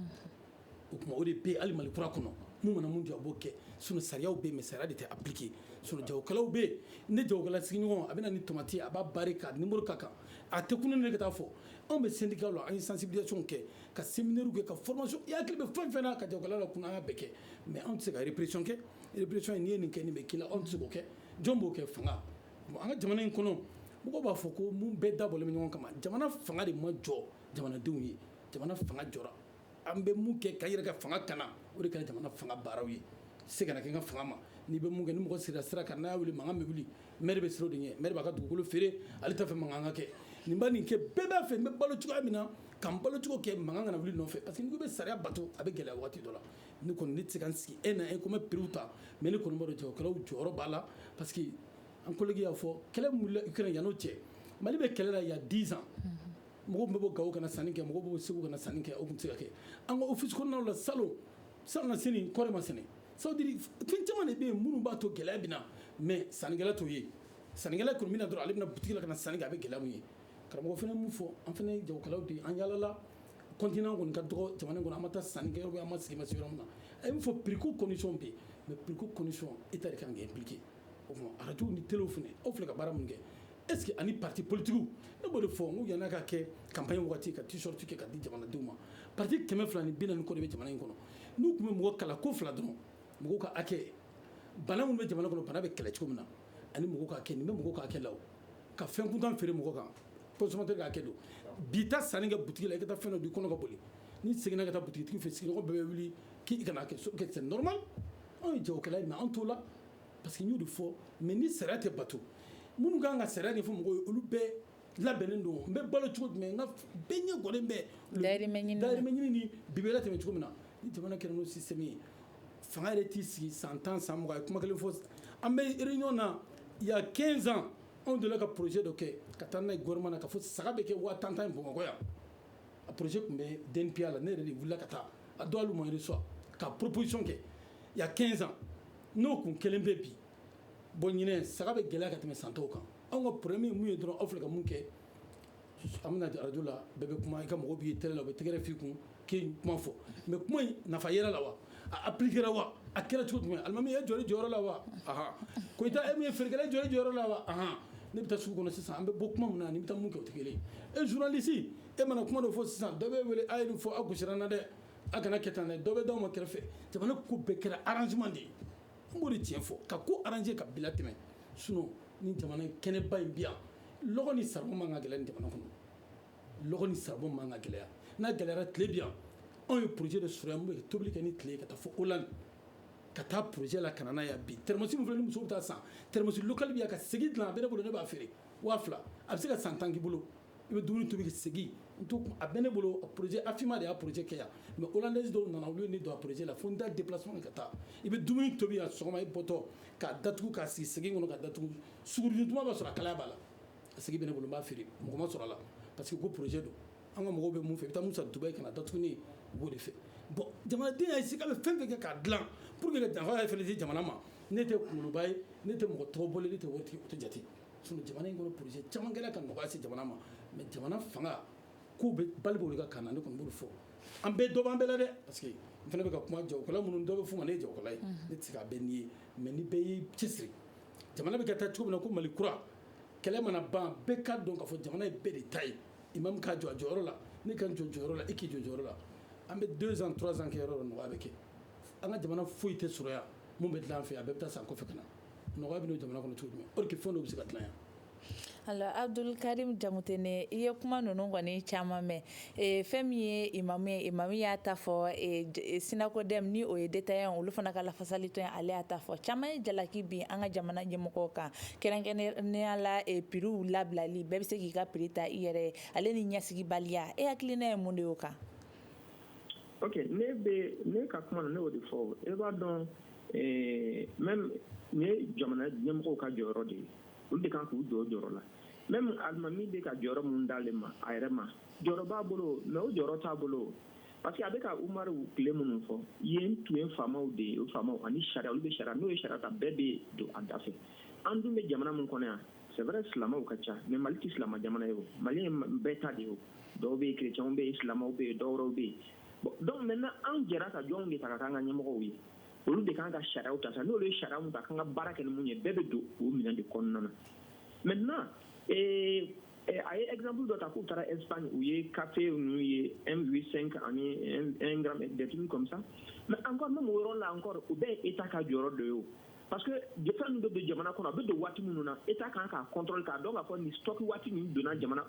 o tuma o de bɛ yen hali Mali kura kɔnɔ mun mana mun diya aw b'o kɛ sinon sariyaw bɛ yen mais sariya de tɛ appliquer sinon jagokɛlaw bɛ yen ne jagokɛla sigiɲɔgɔn a bɛ na ni tomati ye a b'a barrer ka numéro k'a kan a tɛ kunun ne ka taa fɔ anw bɛ syndicat la an ye sensibilisation kɛ ka séminaire kɛ ka formation i hakili bɛ fɛn o fɛn na ka jagokɛla lakunun an y'a bɛɛ kɛ mais anw tɛ se ka répression kɛ répression in n'i ye nin kɛ nin bɛ k'i la anw tɛ se k'o kɛ jɔn b'o kɛ fanga bon an ka jamana in kɔnɔ mɔgɔw b'a fɔ ko mun bɛɛ dabɔlen bɛ ɲɔgɔn kama jamana fanga de ma jɔ jamanadenw ye jamana fanga jɔra an bɛ mun kɛ ka yɛrɛ ka fanga kana o de kɛra jamana fanga baaraw ye se kana kɛ n ka fanga ma n'i bɛ mun kɛ ni mɔgɔ sigira sira kan n'a y'a wuli mankan bɛ wuli maire bɛ siran o de ɲɛ maire b'a ka dugukolo feere ale t'a fɛ mankan ka kɛ nin bɛ nin kɛ bɛɛ b'a fɛ n bɛ balo cogoya min na ka n balo cogo kɛ mankan kana wuli n nɔfɛ parce que n'i ko i bɛ sariya bato a bɛ gɛlɛya waati dɔ la ne kɔni ne tɛ se ka n sigi e na e ko n bɛ prix ta mais ne kɔni b'a dɔn jagokɛlaw jɔyɔrɔ b'a la parce que an collègue y'a fɔ kɛlɛ min wulila Ukraine yan'o cɛ Mali bɛ kɛlɛ la il y a 10 ans mɔgɔw tun bɛ bɔ Gawo ka na sanni kɛ mɔgɔw bɛ bɔ Segu ka na sanni kɛ o tun tɛ se ka kɛ an ka office kɔnɔnaw la salon salonnasini kɔɔri ma sɛnɛ ça veut dire fɛn caman de bɛ yen minnu b'a to gɛlɛya bɛ na mais sannikɛla t'o ye sannikɛla kɔni bɛ na dɔrɔn ale bɛna boutique la ka na sanni kɛ a bɛ gɛlɛya mun ye karamɔgɔ fana min fɔ an fana ye jagokɛlaw de ye an yaalala continent kɔni ka dɔgɔ jamana in kɔnɔ an ma taa sanni kɛ an ma sigi ma se yɔrɔ min na a ye min fɔ prix ko condition bɛ yen mais prix ko condition état ka kan k'i impliquer o tuma radio ni téléw fana aw filɛ ka baara mun kɛ est ce que ani parti politique ne b'o de fɔ n ko yan'a ka kɛ campagne waati ka t-shirt kɛ ka di jamanadenw ma parti kɛmɛ fila ni bi naani kɔ de bɛ jamana in kɔnɔ n'u tun bɛ mɔgɔ kalan ko fila dɔrɔn mɔgɔw ka hakɛ bana minnu bɛ jamana kɔnɔ bana bɛ kɛlɛ cogo min na ani mɔgɔ ka hakɛ nin bɛ mɔgɔ ka hakɛ la u ka fɛn kuntan feere mɔgɔ kan consommateur ka hakɛ don bi taa sanni kɛ butigi la i ka taa fɛn dun i kɔnɔ ka boli n'i seginna ka taa butigitigi fɛ sigiɲɔgɔn bɛɛ bɛ wuli k'i kana kɛ c'est normal anw ye jagokɛla in na an t'o la parce que n y'o de fɔ mais ni sariya tɛ bato minnu ka kan ka sariya ɲɛfɔ mɔgɔw ye olu bɛɛ labɛnnen don n bɛ balo cogo jumɛn nka bɛɛ ɲɛ jɔlen bɛ dayirimɛ ɲini na. dayirimɛ ɲini ni bi bɛ latɛmɛ cogo min na ni jamana kɛra n'o système ye fanga yɛrɛ t'i sigi san tan san mugan a ye kuma kelen fɔ an bɛ réunion na il y a 15 ans anw delila ka projet dɔ kɛ ka taa n'a ye gouvernement na ka fɔ saga bɛ kɛ waa tan tan ye bamakɔ yan a projet tun bɛ DNPA la ne yɛrɛ de wulila ka taa a don hali u ma reçoit ka proposition kɛ il y a 15 ans n'o tun kɛlen bɛ bi bon ɲinan saga bɛ gɛlɛya ka tɛmɛ san tɔw kan anw ka problème ye mun ye dɔrɔn aw filɛ ka mun kɛ an bɛ na radio la bɛɛ bɛ kuma i ka mɔgɔ b'i télé la u bɛ tɛgɛrɛ f'i kun k'i kuma fɔ mais kuma in nafa yɛrɛ la wa a appliquera wa a kɛra cogo jumɛn alimami e jɔl'i jɔyɔrɔ la wa Koyita e min ye feerekɛla jɔl'i jɔyɔrɔ la wa bon ne bɛ taa sugu kɔnɔ sisan an bɛ bɔ kuma min na ni bɛ taa mun kɛ o tɛ kelen ye journaliste e mana kuma dɔ fɔ sisan dɔ bɛ wele a ye nin fɔ a gosira n na dɛ a kana kɛ tan dɛ dɔ bɛ d'aw ma kɛrɛfɛ jamana ko bɛɛ kɛra arrangement de ye N b'o de tiɲɛ fɔ ka ko arranger ka bila tɛmɛ sinon nin jamana kɛnɛba in bi yan lɔgɔ ni saribɔn man ka gɛlɛya nin jamana kɔnɔ lɔgɔ ni saribɔn man ka gɛlɛya n'a gɛlɛyayara tile bi yan anw ye projet de sɔrɔ yan mun bɛ tobili kɛ ni tile ye ka taa fɔ Hollande ka taa projet la ka na n'a ye bi termosi min filɛ ni muso bɛ taa san termosi local bi yan ka segi dilan a bɛ n bolo ne b'a feere waa fila a bɛ se ka san tan k'i bolo i bɛ dumuni tobi ka segi a bɛ ne bolo projet AFIMA de y'a projet kɛ yan mais hollandaise dɔw nana olu ye ne don a projet la fo n ka déplacer ka taa i bɛ dumuni tobi yan sɔgɔma i bɔtɔ k'a datugu k'a sigi segi kɔnɔ k'a datugu sugurudun tuma b'a sɔrɔ a kalaya b'a la a segi bɛ ne bolo n b'a feere mɔgɔ ma sɔrɔ a la parce que ko projet don an ka mɔgɔw bɛ mun fɛ i bɛ taa mun san Dubaï ka na datugu ne ye u b'o de fɛ bon jamanaden y'i sigi a bɛ fɛn fɛn kɛ k'a dilan pour que ka nafa yɛrɛ fana di jamana ma ne tɛ kunkoloba ye ne tɛ mɔgɔ tɔgɔ bɔlen ne ta tɛ jate sinon jamana in kɔnɔ projet caman kɛra ka nɔgɔya se jamana ma mais jamana fanga k'u bɛ bali de ka kan ne tun b'o fɔ an bɛɛ dɔ b'an bɛɛ la dɛ parce que n fana bɛ ka kuma jagokɛla minnu dɔw bɛ fɔ u ma ne ye jagokɛla ye ne tɛ a bɛ n' ye mais ni bɛɛ y'i cɛsiri jamana bɛ ka taa cogo min na ko mali kura kɛlɛ mana ban bɛɛ ka dɔn k'a fɔ jamana ye bɛɛ de ta ye imam k'a jɔ a jɔyɔrɔ la ne ka n jɔ jɔyɔrɔ la i k'i jɔ jɔyɔrɔ la an bɛ deux ans trois ans kɛ yɔrɔ nɔgɔya bɛ kɛ an ka jamana foyi tɛ sɔrɔ yan minnu bɛ dilan an fɛ a bɛɛ bɛ taa san kɔfɛ ka na nɔgɔya bɛ n'o jamana kɔnɔ cogo jumɛn or que fɛn dɔw bɛ se ka dilan yan alors abdul karim jamutene i ye kuma ninnu kɔni caman mɛn fɛn min ye imamu ye imamu y'a ta fɔ synacodem ni o ye détaillant olu fana ka lafasali tɔn ale y'a ta fɔ caman ye jalaki bin an ka jamana ɲɛmɔgɔw kan kɛrɛnkɛrɛnnenya la prixw labilali bɛɛ bɛ se k'i ka prix ta i yɛrɛ ye ale ni ɲɛsigibaliya e hakilina ye mun de y'o kan ne ne ka kuma na ne y'o de fɔ e b'a dɔn ɛɛ même nin ye jamana ɲɛmɔgɔw ka jɔyɔrɔ de ye olu de kan k'u jɔ o jɔyɔrɔ la même alimami bɛ ka jɔyɔrɔ min d'ale ma a yɛrɛ ma jɔyɔrɔ b'a bolo mais o jɔyɔrɔ t'a bolo parce que a bɛ ka umaru tile minnu fɔ yen tun ye faamaw de ye o faamaw ani sariya olu bɛ sariya n'o ye sariya ta bɛɛ bɛ don a da fɛ an dun bɛ jamana min kɔnɔ yan c'est vrai silamɛw ka ca mais mali tɛ silamɛ jamana ye o mali ye bɛɛ ta de ye o dɔw bɛ yen kerecɛnw bɛ yen silamɛw bɛ yen dɔwɛrɛw bɛ yen dɔnku mɛ an jɛra ka jɔn de ta ka an ka ɲɛmɔgɔ ye olu de kan ka sariya ta sa n'olu ye sariya ta ka baara kɛ mun ye bɛɛ bɛ don u minɛ de kɔnɔna na mɛ na a ye ezbu dɔ ta k'u taara e u ye kafe n'u ye sen anime deti kɔmisa mɛ an ka yɔrɔ la an kɔrɔ u bɛɛ e ta ka jɔyɔrɔ don ye parce que fɛn min bɛ don jamana kɔnɔ a bɛ don waati minnu na état kan k'a contrôle k'a dɔn k'a fɔ nin stock waati nin donna jamana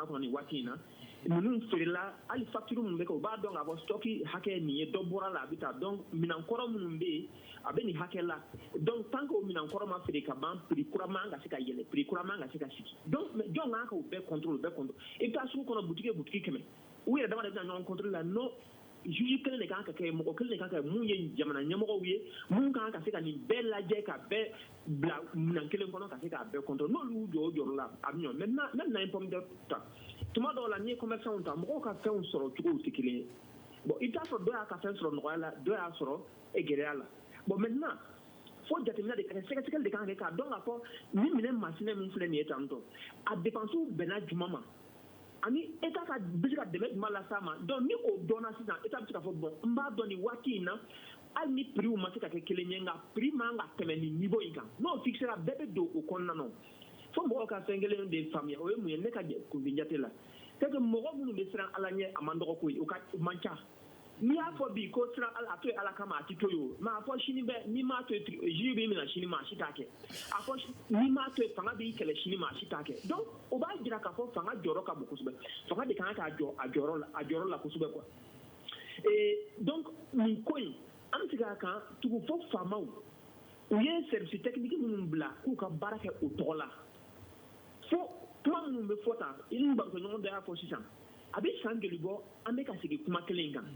kɔnɔ nin waati in na ninnu feerela hali facture minnu bɛ kɛ u b'a dɔn k'a fɔ stock hakɛ ye nin ye dɔ bɔra la a bɛ taa donc minɛn kɔrɔ minnu bɛ yen a bɛ nin hakɛ la donc tant que o minɛn kɔrɔ ma feere ka ban prix kura man ka se ka yɛlɛ prix kura man ka se ka sigi donc jɔn kan k'o bɛɛ contrôle i bɛ taa sugu kɔnɔ boutique o boutique kɛmɛ u yɛrɛ dama de bɛ na ɲɔgɔn contrôle la non juge kelen de kan ka kɛ mɔgɔ kelen de kan ka mun ye jamana ɲɛmɔgɔw ye mun kan ka se ka nin bɛɛ lajɛ ka bɛɛ bila minan kelen kɔnɔ ka se k'a bɛɛ contrôle n'olu y'u jɔ o jɔyɔrɔ la a bɛ ɲɔ maintenant même n'an ye pomme de terre ta tuma dɔw la n'i ye commerçants ta mɔgɔw ka fɛnw sɔrɔ cogow tɛ kelen ye bon i bɛ t'a sɔrɔ dɔ y'a ka fɛn sɔrɔ nɔgɔya la dɔ y'a sɔrɔ gɛlɛya la bon maintenant fo jateminɛ de ka kɛ sɛgɛsɛgɛli de kan ka kɛ k'a dɔn k'a fɔ nin minɛn masina min filɛ nin ye tantɔ a depansiw bɛnna juma ma ani état ka bɛ se ka dɛmɛ jumɛn las'a ma donc ni o dɔnna sisan état bɛ se k'a fɔ bon n b'a dɔn nin waati in na hali ni prixw ma se ka kɛ kelen ye nka prix man ka tɛmɛ nin niveau in kan n'o fixera bɛɛ bɛ don o kɔnɔna na fo mɔgɔw ka fɛn kelen de faamuya o ye mun ye ne ka kunfin jate la c'est que mɔgɔ minnu bɛ siran ala ɲɛ a man dɔgɔ koyi o ka man ca n'i y'a fɔ bi ko siran a to ye ala kama a tɛ to ye mais a fɔ sini bɛɛ n'i m'a to juge b'i minɛ sini maa si t'a kɛ a fɔ n'i m'a to fanga b'i kɛlɛ sini maa si t'a kɛ donc o b'a jira k'a fɔ fanga jɔyɔrɔ ka bon kosɛbɛ fanga de kan k'a jɔ a jɔyɔrɔ la a jɔyɔrɔ la kosɛbɛ quoi donc nin ko in an bɛ segin a kan tugun fo faama u ye service technique minnu bila k'u ka baara kɛ u tɔgɔ la fo kuma minnu bɛ fɔ tan i ni barokɛɲɔgɔn dɔ y'a fɔ sisan a bɛ san joli bɔ an bɛ ka segin kuma kelen in kan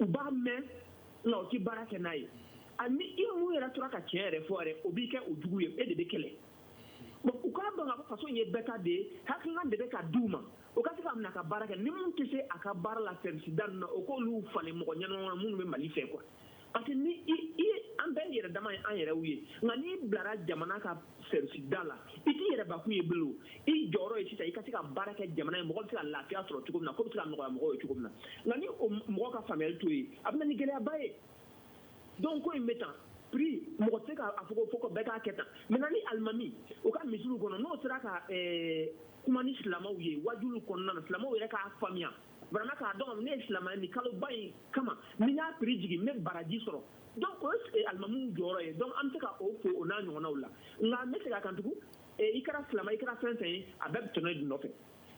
u b'a mɛn nka u tɛ baara kɛ n'a ye ani i mun yɛrɛ tora ka tiɲɛ yɛrɛ fɔ yɛrɛ o b'i kɛ o jugu ye e de bɛ kɛlɛ bon u k'a dɔn k'a fɔ faso in ye bɛɛ ta de ye hakilina de bɛ ka di u ma o ka se ka minɛ ka baara kɛ ni minnu tɛ se a ka baara la sɛrisida ninnu na o k'olu falen mɔgɔ ɲɛnama minnu bɛ mali fɛ quoi parce que ni i i an bɛɛ yɛrɛ dama ye an yɛrɛw ye nka n'i bilara jamana ka sɛrisida la i t'i yɛrɛbakun ye bilen i jɔyɔrɔ ye sisan i ka se ka baara kɛ jamana ye mɔgɔ bɛ se ka lafiya sɔrɔ cogo min na ko bɛ se ka nɔgɔya mɔgɔw ye cogo min na nka ni o mɔgɔ ka faamuyali t'o ye a bɛ na ni gɛlɛyaba ye donc ko in bɛ tan prix mɔgɔ tɛ se ka a fɔ ko fɔ bɛɛ k'a kɛ tan maintenant ni alimami u ka misiriw kɔnɔ n'o sera ka kuma ni silamɛw ye wajuliw kɔnɔna na silamɛw yɛrɛ k'a faamuya vraiment k'a dɔn ne ye silamɛ nin kaloba in kama ni y'a prix jigin n bɛ baraji sɔrɔ donc o ye alimamiw jɔyɔrɔ ye donc an bɛ se ka o fo o n'a ɲɔgɔnnaw la nka n bɛ segin a kan tugun i kɛra silamɛ i kɛra fɛn fɛn ye a bɛɛ bɛ tɔnɔ de nɔfɛ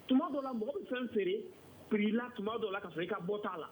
tuma dɔ la mɔgɔ bɛ fɛn feere prix la tuma dɔ la ka sɔrɔ i ka bɔ t'a la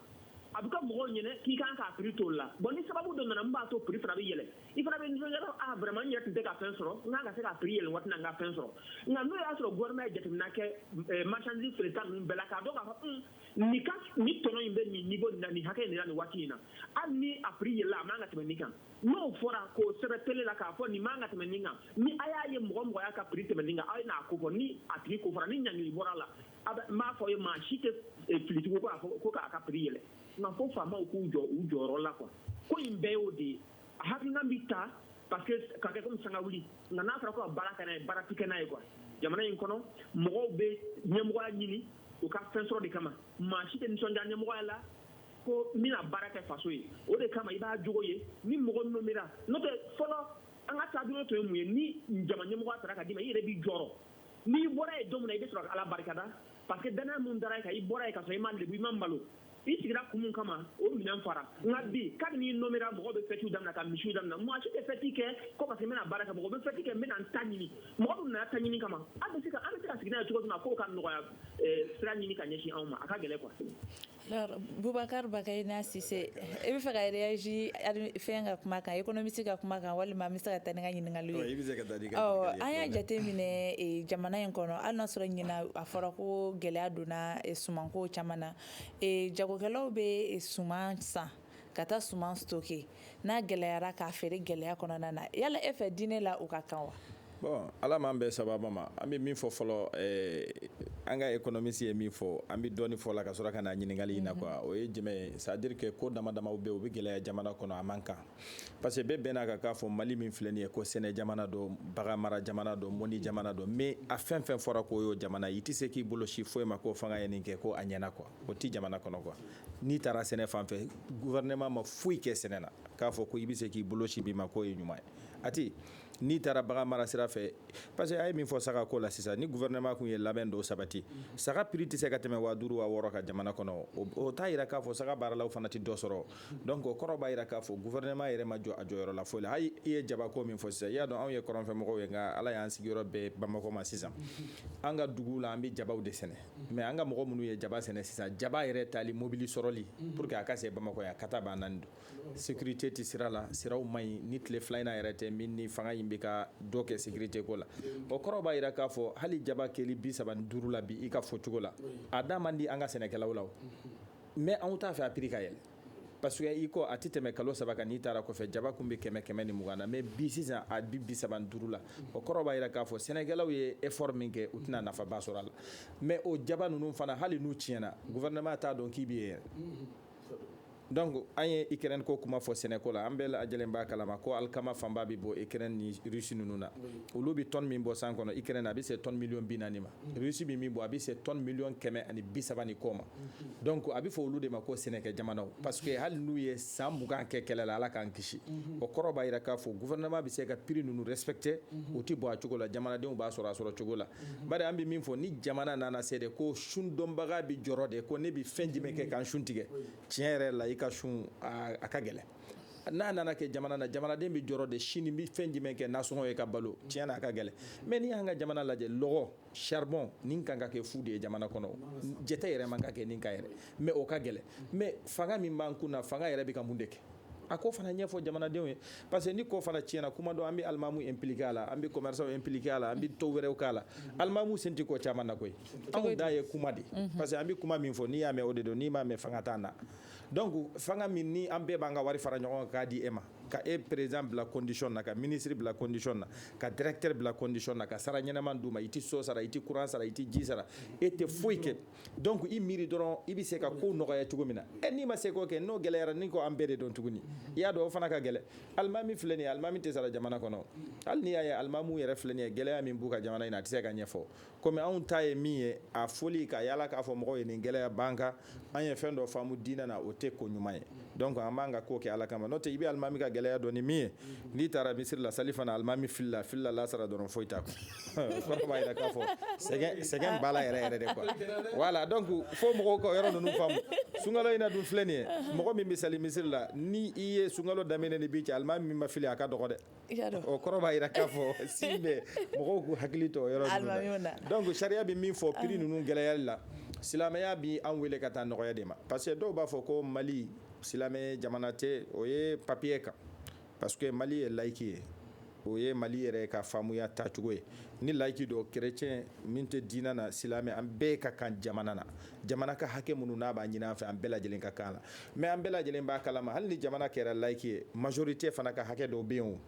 a bɛ kɛ mɔgɔw ɲɛna k'i kan k'a prix t'o la bon ni sababu dɔ nana min b'a to prix fana bɛ yɛlɛ i fana bɛ nisɔndiya dɔrɔn ah vraiment n yɛrɛ tun tɛ ka fɛn sɔrɔ n kan ka se ka prix yɛlɛn waati in na n ka fɛn sɔrɔ nka n'o y'a sɔrɔ gouvernement ye jateminɛ kɛ eh, marchandise feereta ninnu bɛɛ la k'a dɔn k'a fɔ un nin ka nin tɔnɔ in bɛ nin niveau nin na nin hakɛ in de la nin waati in na hali ni a prix yɛlɛla a man ka tɛmɛ nin kan n'o fɔra k'o sɛbɛn tele la k'a fɔ nin man ka tɛmɛ nin kan ni a y'a ye mɔgɔ o mɔgɔ y'a ka prix tɛmɛ nin kan aw ye n'a ko fɔ ni a tigi ko fɔra ni ɲangili bɔra a la a bɛ n b'a fɔ aw ye maa si tɛ eh, fili tugun ko k'a fɔ ko k'a ka prix yɛlɛ nka fo faamaw k'u jɔ u jɔyɔrɔ la quoi ko in bɛɛ y'o de ye a hakilina bɛ ta parce que ka kɛ comme sanga wuli nka n'a fɔra ko ka baara kɛ n'a ye baara tɛ kɛ n'a ye quoi jamana in kɔnɔ mɔgɔw bɛ ɲɛmɔgɔya ɲini u ka fɛn sɔrɔ de kama maa si tɛ nisɔndiya ɲɛmɔgɔya la ko n bɛna baara kɛ faso ye o de kama i b'a jogo ye ni mɔgɔ nomera n'o tɛ fɔlɔ an ka taabolo tun ye mun ye ni jama ɲɛmɔgɔya tara ka d'i ma i yɛrɛ b'i jɔrɔ n'i bɔra ye don min na i bɛ sɔrɔ ka ala barikada parce que danaya mun dara e kan i bɔra ye ka sɔrɔ i ma lebu i ma malo i sigira kun min kama o minɛn fara nka bi kabini i nomera mɔgɔ bɛ fɛtiw damina ka misiw damina maa si tɛ fɛti kɛ ko parce que n bɛna baara kɛ mɔgɔ bɛ fɛti kɛ n bɛna n ta ɲini mɔgɔ dun nana ta ɲini kama an bɛ se ka an bɛ se ka sigi n'a ye cogo min na k'o ka nɔgɔya eh, sira ɲini ka ɲɛsin anw ma a ka gɛlɛn quoi Bubakari Bakayina Sise e bɛ fɛ ka réagir fɛn ka kuma kan ekonomisi ka kuma kan walima n bɛ se ka taa ni n ka ɲininkali ye an y'a jate minɛ jamana in kɔnɔ hali n'a sɔrɔ ɲinan a fɔra ko gɛlɛya donna sumanko caman na jagokɛlaw bɛ suman san ka taa suman stocker n'a gɛlɛyara k'a feere gɛlɛya kɔnɔna na yala e fɛ diinɛ la o ka kan wa bon Ala m'an bɛɛ sababa ma an bɛ min fɔ fɔlɔ eh, an ka ekonomisi ye min fɔ an bɛ dɔɔni fɔ la ka sɔrɔ ka na ɲininkali in na quoi mhm. o ye jumɛn ye c'est-à-dire que ko dama damaw bɛ u bɛ gɛlɛya jamana kɔnɔ a man kan parce que bɛɛ bɛn'a kan k'a fɔ Mali min filɛ nin ye ko sɛnɛ jamana don bagan mara jamana don mɔni jamana don mais a fɛn fɛn fɔra k'o y'o jamana i tɛ se k'i bolo sin foyi ma ko fanga ye nin kɛ ko a ɲɛna quoi o tɛ jamana kɔnɔ quoi n'i taara sɛnɛ fan fɛ gouvernement ma foyi kɛ sɛnɛ na k'a fɔ ko i bɛ se k'i bolo sin min ma k'o ye ɲuman ye a tɛ n'i taara bagan mara sira fɛ parce que a ye min fɔ saga ko la sisan ni gouvernement kun ye labɛn dɔw sabati saga prix tɛ se ka tɛmɛ waa duuru waa wɔɔrɔ kan jamana kɔnɔ o t'a yira k'a fɔ saga baaralaw fana tɛ dɔ sɔrɔ donc o kɔrɔ b'a yira k'a fɔ gouvernement yɛrɛ ma jɔ a jɔyɔrɔ la foyi la hali i ye jabako min fɔ sisan i y'a dɔn anw ye kɔrɔnfɛmɔgɔw ye nka Ala y'an sigiyɔrɔ bɛn Bamakɔ ma sisan an ka duguw la an bɛ jabaw de sɛnɛ mais an ka mɔgɔ minnu ye jaba sɛnɛ sisan jaba yɛrɛ tali mobili sɔrɔli pour que a ka se Bamakɔ yan kata b'a nani don sécurité tɛ sira la siraw man ɲi ni tile fila in na yɛrɛ tɛ min ni fanga in bɛ ka dɔ kɛ sécurité ko la o kɔrɔ b'a yira k'a fɔ hali jaba kɛli bi saba ni duuru la bi i ka fɔcogo la a da man di an ka sɛnɛkɛlaw la mais anw t'a fɛ a prix ka yɛlɛ parce que i ko a tɛ tɛmɛ kalo saba kan n'i taara kɔfɛ jaba kun bɛ kɛmɛ kɛmɛ ni mugan na mais bi sisan a bɛ bi saba ni duuru la o kɔrɔ b'a yira k'a fɔ sɛnɛkɛlaw ye effort min kɛ u tɛna nafaba sɔrɔ a la mais o jaba ninnu fana hali n'u tiɲɛna gouvernement t'a dɔn k'i bɛ yen donc an ye Ukraine ko kuma fɔ sɛnɛko la an bɛɛ lajɛlen b'a kalama ko alikama fanba bɛ bɔ Ukraine ni Russie ninnu na olu bɛ tonne min bɔ san kɔnɔ Ukraine a bɛ se tonne million bi naani ma Russie bɛ min bɔ a bɛ se tonne million kɛmɛ ani bi saba ni kɔ ma donc a bɛ fɔ olu de ma ko sɛnɛkɛ jamanaw parce que hali n'u ye san mugan kɛ kɛlɛ la Ala k'an kisi o kɔrɔ b'a yira k'a fɔ gouvernement bɛ se ka prix ninnu respecter u tɛ bɔ a cogo la jamanadenw b'a sɔrɔ a sɔrɔ cogo la bari an bɛ min fɔ ni jamana nana se de ko sundonbaga bɛ jɔrɔ de ko ne bɛ fɛn jumɛn kɛ ka n sun tigɛ tiɲɛ yɛrɛ la i ka sun a ka gɛlɛn n'a nana kɛ jamana na jamanaden bɛ jɔrɔ de sini n bɛ fɛn jumɛn kɛ nasɔngɔ ye ka balo tiɲɛ na a ka gɛlɛn mais n'i y'an ka jamana lajɛ lɔgɔ saribɔn nin kan ka kɛ fu de ye jamana kɔnɔ jate yɛrɛ man ka kɛ nin kan yɛrɛ mais o ka gɛlɛn mais fanga min b'an kun na fanga yɛrɛ bɛ ka mun de kɛ a ko fana ɲɛfɔ jamanadenw ye parce que ni ko fana tiɲɛna kuma dɔ an bɛ alimamu impliquer a la an bɛ commerçants impliquer a la an bɛ dɔ wɛrɛw k'a la alimamu sen tɛ ko caman na koyi anw ta ye kuma de parce que an bɛ kuma min fɔ n'i y'a mɛn o de don n'i m'a mɛn fanga t'an na donc fanga min ni an bɛɛ b'an ka wari fara ɲɔgɔn kan k'a di e ma ka e président bila condition na ka ministre bila condition na ka directeur bila condition na ka sara ɲɛnaman d'u ma i tɛ so sara i tɛ courant sara i tɛ ji sara e tɛ foyi kɛ donc i miiri dɔrɔn i bɛ se ka kow nɔgɔya cogo min na ɛ n'i ma se k'o kɛ n'o gɛlɛyara n'i ko an bɛɛ de don tuguni i y'a dɔn o fana ka gɛlɛ alimami filɛ nin ye alimami tɛ sara jamana kɔnɔ hali n'i y'a ye alimamiw yɛrɛ filɛ nin ye gɛlɛya min b'u kan jamana in na a tɛ se ka ɲɛfɔ komi anw ta ye min ye a fɔli ka yaala k'a fɔ mɔgɔw ye nin gɛlɛya b'an kan an ye fɛn dɔ faamu diinɛ na o tɛ ko ɲuman ye donc an b'an ka ko kɛ ala kama n'o tɛ i bɛ alimami ka gɛlɛya dɔn ni min ye n'i taara misiri la sali fana alimami filila filila lasara dɔrɔn foyi t'a kun kɔrɔ b'a yira k'a fɔ sɛgɛn b'a la yɛrɛ de quoi voilà donc fo mɔgɔw ka yɔrɔ ninnu faamu sunkalo in na dun filɛ nin ye mɔgɔ min bɛ sali misiri la ni i ye sunkalo daminɛ ni bi cɛ alimami min ma fili a ka dɔgɔ dɛ o kɔrɔ b'a jira k'a fɔ si bɛ mɔgɔw k'u hakili to yɔrɔ ninnu na donc sariya bɛ min fɔ prix ninnu gɛlɛyali la silamɛya bɛ an weele ka taa nɔgɔya de ma parce que dɔw b'a fɔ ko mali silamɛ jamana tɛ o ye papier kan parce que mali ye laïque ye o ye mali yɛrɛ ka faamuya tacogo ye ni laïque don chrétien min tɛ diina na silamɛ an bɛɛ ka kan jamana na jamana ka hakɛ minnu n'a b'a ɲini an fɛ an bɛɛ lajɛlen ka kan la mais an bɛɛ lajɛlen b'a kalama hali ni jamana kɛra laïque ye majorité fana ka hakɛ dɔw bɛ yen o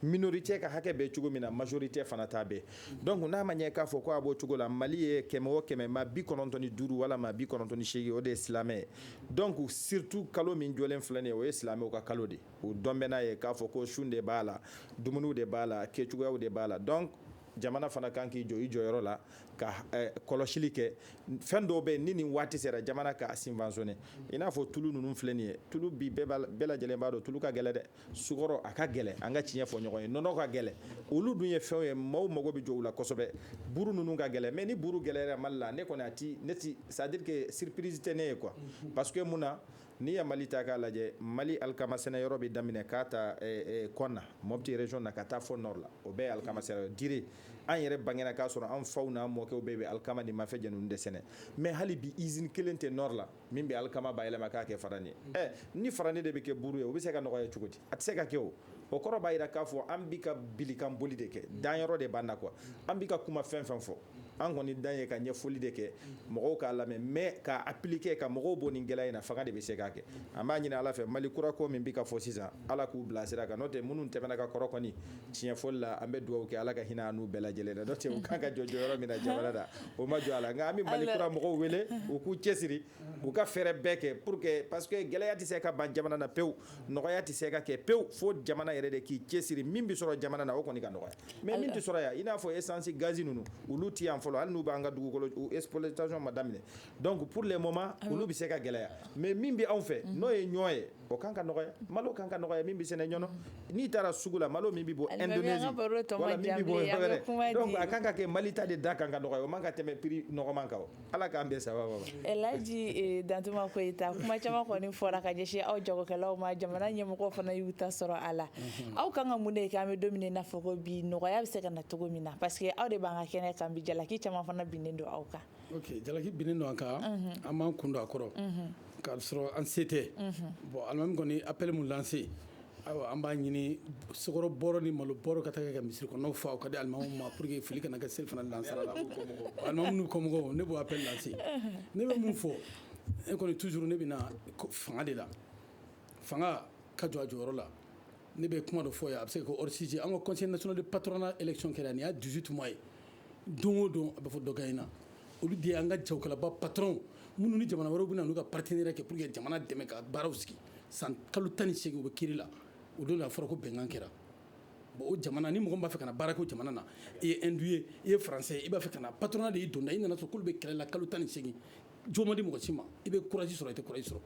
minorité ka hakɛ bɛ cogo min na majorité fana ta bɛ donc n'a ma ɲɛ k'a fɔ ko a b'o cogo la mali ye kɛmɛ o kɛmɛ maa bi kɔnɔntɔn ni duuru walama bi kɔnɔntɔn ni seegin o de ye silamɛ ye donc surtout kalo min jɔlen filɛ nin ye o ye silamɛw ka kalo de o don bɛ n'a ye k'a fɔ ko sun de b'a la dumuniw de b'a la kɛcogoyaw de b'a la donc jamana fana kan k'i jɔ i jɔyɔrɔ la ka eh, kɔlɔsili kɛ fɛn dɔw bɛ ni nin waati sera jamana k'a subventionner i n'a fɔ tulu ninnu filɛ nin ye tulu bi bɛɛ lajɛlen b'a dɔn tulu ka gɛlɛ dɛ sukɔrɔ a ka gɛlɛ an ka tiɲɛ fɔ ɲɔgɔn ye nɔnɔ ka gɛlɛ olu dun ye fɛnw ye maaw mago bɛ jɔ u la kosɛbɛ buru ninnu ka gɛlɛ mais ni buru gɛlɛyara mali la ne kɔni a ti ne ti c'est à dire que surprise tɛ ne ye quoi parce que mun na N'i ye mali ta k'a lajɛ mali alikama sɛnɛ yɔrɔ bɛ daminɛ k'a ta konna mopti région na ka taa fo nord la o bɛɛ ye alikama sɛnɛ yɔrɔ diré an yɛrɛ bangena k'a sɔrɔ an faw n'an mɔkɛw bɛɛ bɛ alikama ni mafɛn jɛ ninnu de sɛnɛ mais hali bi usine kelen tɛ nord la min bɛ alikama bayɛlɛma k'a kɛ farani ye ɛ ni farani de bɛ kɛ buru ye o bɛ se ka nɔgɔya cogo di a tɛ se ka kɛ o kɔrɔ b'a jira k'a fɔ an bi ka bilikan boli de kɛ danyɔrɔ de b'an na quoi an bi ka kuma fɛn fɛn fɔ an kɔni dan ye ka ɲɛfɔli de kɛ mɔgɔw k'a lamɛn mais k'a appliquer ka mɔgɔw bɔ nin gɛlɛya in na fanga de bɛ se k'a kɛ an b'a ɲini ala fɛ mali kura ko min bi ka fɔ sisan ala k'u bila sira kan n'o tɛ minnu tɛmɛna ka kɔrɔ kɔni tiɲɛfɔli la an bɛ dugawu kɛ ala ka hinɛ an n'u bɛɛ lajɛlen la n'o tɛ u kan ka jɔ jɔyɔrɔ min na jamana na u ma jɔ a la nka an bɛ mali kura mɔgɔw wele u k'u cɛsiri u ka fɛɛrɛ bɛɛ kɛ pour que parce que gɛlɛya tɛ se ka ban jamana na pewu nɔgɔya tɛ se ka kɛ pewu fo jamana yɛrɛ de k'i cɛsiri min bɛ sɔrɔ jamana na o kɔni ka nɔgɔya mais min tɛ sɔrɔ yan i n'a fɔ esansi gazi ninnu olu tɛ yan fɔlɔ hali n'u b'an ka dugukolo exploitation ma daminɛ donc pour le moment olu bɛ se ka gɛlɛya mais min bɛ anw fɛ n'o ye ɲɔ ye o kan ka nɔgɔya malo kan ka nɔgɔya min bɛ sɛnɛ ɲɔnɔ n'i taara sugu la malo min bɛ bɔ indonésie wala min bɛ bɔ yɔrɔ wɛrɛ donc a kan ka kɛ mali ta de da kan ka nɔgɔya o man ka tɛmɛ prix nɔgɔman kan Ala k'an bɛɛ saba laji dantuma koyita kuma caman kɔni fɔra ka ɲɛsin aw jagokɛlaw ma jamana ɲɛmɔgɔw fana y'u ta sɔrɔ a la aw ka kan ka mun de kɛ an bɛ don min na fɔ ko bi nɔgɔya bɛ se ka na cogo min na parce que aw de b'an ka kɛnɛ kan bi jalaki caman fana binnen don aw kan ok jalaki binnen don an kan an b'an kun don a kɔrɔ k'a sɔrɔ an se tɛ bon alimami kɔni appel min lancé Ayiwa an b'a ɲini sukaro bɔrɔ ni malo bɔrɔ ka taa kɛ ka misiri kɔnɔ fa o ka di alimamuw ma pour que fili kana kɛ selifana lansara la alimamu n'u kɔmɔgɔw ne b'o appel lancé ne bɛ mun fɔ e kɔni toujours ne bɛ fanga de la fanga ka jɔ a jɔyɔrɔ la ne bɛ kuma dɔ fɔ yan a bɛ se ka kɛ hors sujet an ka conseil national de patronat élection kɛra nin y'a dix-huit mois ye don o don a bɛ fɔ dɔ gaɲɛna olu de ye an ka jagokɛlaba patronw minnu ni jamana wɛrɛw bɛ na n'u ka partenaire kɛ pour que jamana dɛmɛ ka baaraw sigi san kalo tan ni segin u bɛ kiri la o don a fɔra ko bɛnkan kɛra bon o jamana ni mɔgɔ b'a fɛ ka na baara kɛ o jamana na i ye hindou ye i ye faransɛ ye i b'a fɛ ka na patronat de y'i donda i nana sɔrɔ k'olu bɛ kɛlɛ la kalo tan ni segin jo ma di mɔgɔ si ma i bɛ courage sɔrɔ i tɛ courage sɔrɔ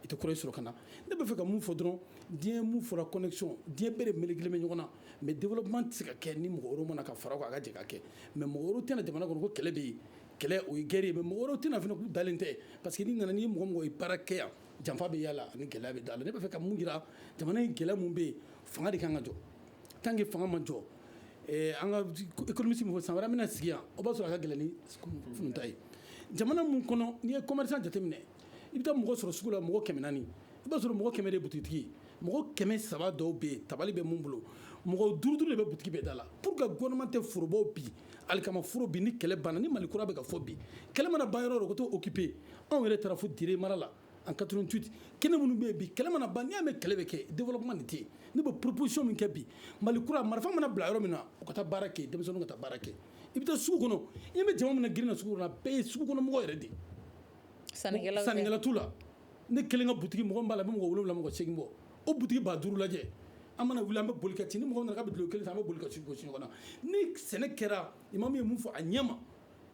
i tɛ courage sɔrɔ ka na ne b'a fɛ ka mun fɔ dɔrɔn diɲɛ min fɔra connexion diɲɛ bɛɛ de melekelen bɛ ɲɔgɔn na mais développement tɛ se ka kɛ ni mɔgɔ wɛrɛw ma na ka fara o kan a ka jɛ ka kɛ mais mɔgɔ wɛrɛw tɛna jamana kɔnɔ ko kɛlɛ bɛ yen kɛlɛ o ye guerre ye mais mɔgɔ wɛrɛw tɛna fana k'u dalen tɛ pa parce que n'i nana n'i ye mɔgɔ mɔgɔ ye baara kɛ yan janfa bɛ a la ani gɛlɛya bɛ a la ne b'a fɛ ka mun jira jamana in gɛlɛya min bɛ yen fanga de ka kan ka jɔ tant que fanga ma jɔ an kamisi fɔ san wɛrɛ an bɛna sigi yan o b'a sɔrɔ a ka gɛlɛn ni fta ye jamana min kɔnɔ n'i ye commerçant jateminɛ i bɛ taa mɔgɔ sɔrɔ sugu la mɔgɔ kɛmɛ naani i b'a sɔrɔ mɔgɔ kɛmɛ de butigi mɔgɔ kɛmɛ saba dɔw bɛ yen tabali bɛ mun bolo mɔgɔ duuru duuru de bɛ butigi bɛɛ da la pour que gouvernement tɛ forobaw bi alikama foro bi ni kɛlɛ banna ni mali kura bɛ ka fɔ bi kɛlɛ mana ban yɔrɔ o yɔrɔ u ka t'o occuper anw yɛrɛ taara fo dire mara la en 88 kɛnɛ minnu bɛ yen bi kɛlɛ mana ban n'i y'a mɛn kɛlɛ bɛ kɛ développement nin tɛ yen ne bɛ proposition min kɛ bi mali kura marifa mana bila yɔrɔ min na u ka taa baara kɛ denmisɛnninw ka taa baara kɛ i bɛ taa sugu kɔnɔ i bɛ jama min na girin na sugu kɔnɔ a bɛɛ ye sugu kɔnɔ mɔgɔ yɛrɛ de ye sannikɛla t'u la ne kelen ka butigi mɔgɔ min b'a la bɛ mɔgɔ wolo wolonwula mɔgɔ segin bɔ o butigi ba duuru lajɛ an mana wuli an bɛ boli ka ci ni mɔgɔ nana ka bulɔn kelen san an bɛ boli ka ci gosi ɲɔgɔn na ni sɛnɛ kɛra imam ye min fɔ a ɲɛma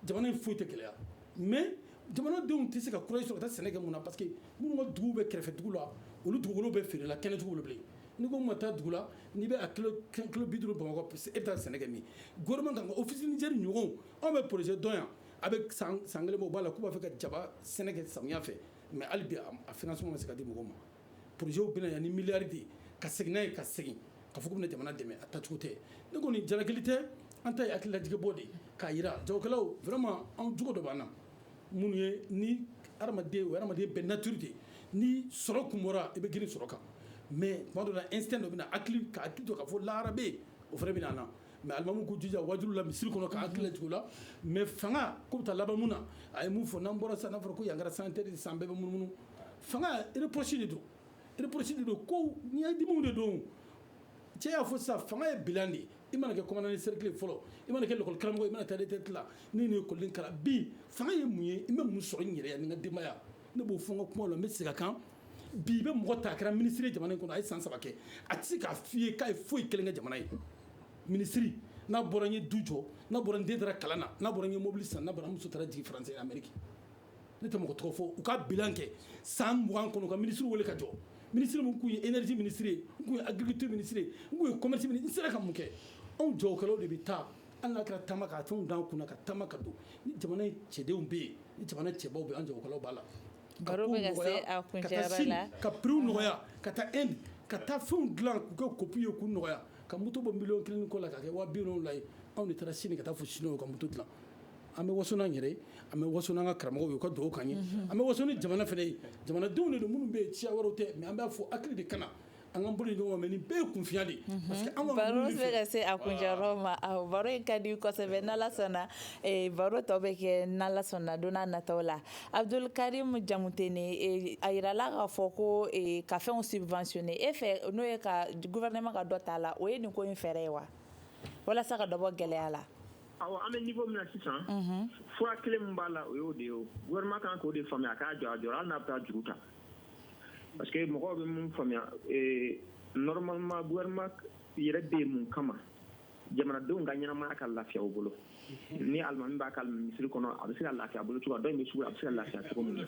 jamana in foyi tɛ gɛlɛya mais jamanadenw tɛ se ka courage sɔrɔ ka taa sɛnɛ kɛ mun na parce que minnu ka dugu bɛ kɛrɛfɛ dugu la olu dugukolo bɛɛ feerela kɛnɛ cogo bilen ni ko ma taa dugu la n'i bɛ a kilo bi duuru bamakɔ e bɛ taa sɛnɛ kɛ min gouvernement kan ka office niger ɲɔgɔn anw bɛ projet dɔn yan A bɛ san kelen bɔ u b'a la k'u b'a fɛ ka jaba sɛnɛ kɛ samiya fɛ mais hali bi a financement ma se ka di mɔgɔw ma projet bɛ na yan ni miliyari de ye ka segin n'a ye ka segin ka fɔ k'u bɛna jamana dɛmɛ a tacogo tɛ ne kɔni jalaki tɛ an ta ye hakililajigin bɔ de k'a jira jagokɛlaw vraiment anw jogo dɔ b'an na min ye ni hadamaden o hadamaden bɛɛ nature de ni sɔrɔ kun bɔra i bɛ girin sɔrɔ kan mais tuma dɔ la instinct dɔ bɛna na a hakili k'a to ka fɔ lahara bɛ yen o fana bɛ na mais alimamiw k'u jija wajuli la misiri kɔnɔ ka hakili lajigin o la mais fanga ko bɛ taa laban mun na a ye mun fɔ n'an bɔra sisan n'a fɔra ko yan kɛra sanitaire san bɛɛ bɛ munumunu fanga reproche de don reproche de don ko ɲɛdimiw de don cɛ y'a fɔ sa fanga ye bilan de ye i mana kɛ commandant de cercle fɔlɔ i mana kɛ lakɔlikaramɔgɔ i mana taa retraite la n'i ye école kalan bi fanga ye mun ye i bɛ mun sɔrɔ n yɛrɛya ni n ka denbaya ne b'o fɔ n ka kuma la n bɛ segin a kan bi i bɛ mɔgɔ ta a kɛra minisiri jamana in kɔnɔ a ye san saba kɛ a tɛ se k'a fɔ i ye k'a ye foyi kelen kɛ jamana ye minisiri n'a bɔra n ye du jɔ n'a bɔra n den taara kalan na n'a bɔra n ye mobili san n'a bɔra n muso taara jigin faransi ameriki ne tɛ mɔgɔ tɔgɔ fɔ u ka bilan kɛ san mugan kɔnɔ ka minisiri wele ka jɔ minisiri min kun ye énergie minisiri ye n kun ye agriculture minisiri ye n kun ye commerce minisiri n sera ka mun kɛ anw jagokɛlaw de bɛ taa hali n'a kɛra taama ka fɛnw d'an kunna ka taama ka don ni jamana cɛdenw bɛ yen ni jamana cɛbaw bɛ yen an jagokɛlaw b'a la ka taa fɛnw dilan k'u kɛ kopi ye k'u nɔgɔya ka moto bɔ miliyɔn kelen kɔ la ka kɛ wa biwolonwula ye anw de taara sini ka taa fɔ siniwaw ka moto dilan an bɛ waso n'an yɛrɛ ye an bɛ waso n'an ka karamɔgɔw ye u ka dugawu k'an ye an bɛ waso ni jamana fana ye jamanadenw de don minnu bɛ yen siya wɛrɛ tɛ mais an b'a fɔ hakili de ka na an ka bolo ɲɔgɔn mais nin bɛɛ ye kunfiya de baro bɛ ka se a kuncɛyɔrɔ ma baro in ka di kosɛbɛ n'ala sɔnna baro tɔ bɛ kɛ n'ala sɔnna don n'a nataw la abudul karimu jamutɛnɛ a jirala k'a fɔ ko ka fɛnw subventionné e fɛ n'o ye ka gouvernement ka dɔ t'a la o ye nin ko in fɛɛrɛ ye wa walasa ka dɔ bɔ gɛlɛya la awɔ an bɛ niveau min na sisan fura kelen min b'a la o y'o de ye o gouvernement ka kan k'o de faamuya a k'a jɔ a jɔyɔrɔ la hali n'a bɛ taa juru ta parce que mɔgɔw bɛ mun faamuya ee normalement gouvernement yɛrɛ bɛ yen mun kama jamanadenw ka ɲɛnamaya ka lafiya u bolo ni alimami b'a ka misiri kɔnɔ a bɛ se ka lafiya a bolo cogo dɔ in bɛ sugu la a bɛ se ka lafiya cogo min na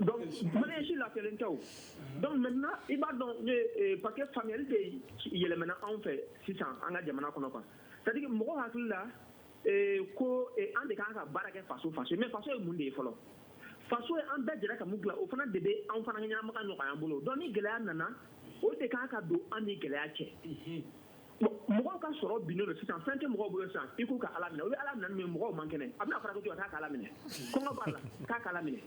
donc maliyɛn si lafiyalen tɛ o donc maintenant i b'a dɔn ee parce que faamuyali de yɛlɛmana anw fɛ sisan an ka jamana kɔnɔ quoi c'est à dire mɔgɔw hakili la ko an de kan ka baara kɛ faso faso mais faso ye mun de ye fɔlɔ faso ye an bɛɛ jɛra ka min dilan o fana de bɛ an fana ka ɲɛnamaya nɔgɔya an bolo donc ni gɛlɛya nana o de kan ka don an ni gɛlɛya cɛ mɔgɔw ka sɔrɔ binnen don sisan fɛn tɛ mɔgɔw bolo sisan i k'u ka ala minɛ u bɛ ala minɛ min mɔgɔw man kɛnɛ a bɛna fara ko k'a ka ala minɛ kɔngɔ b'a la k'a ka ala minɛ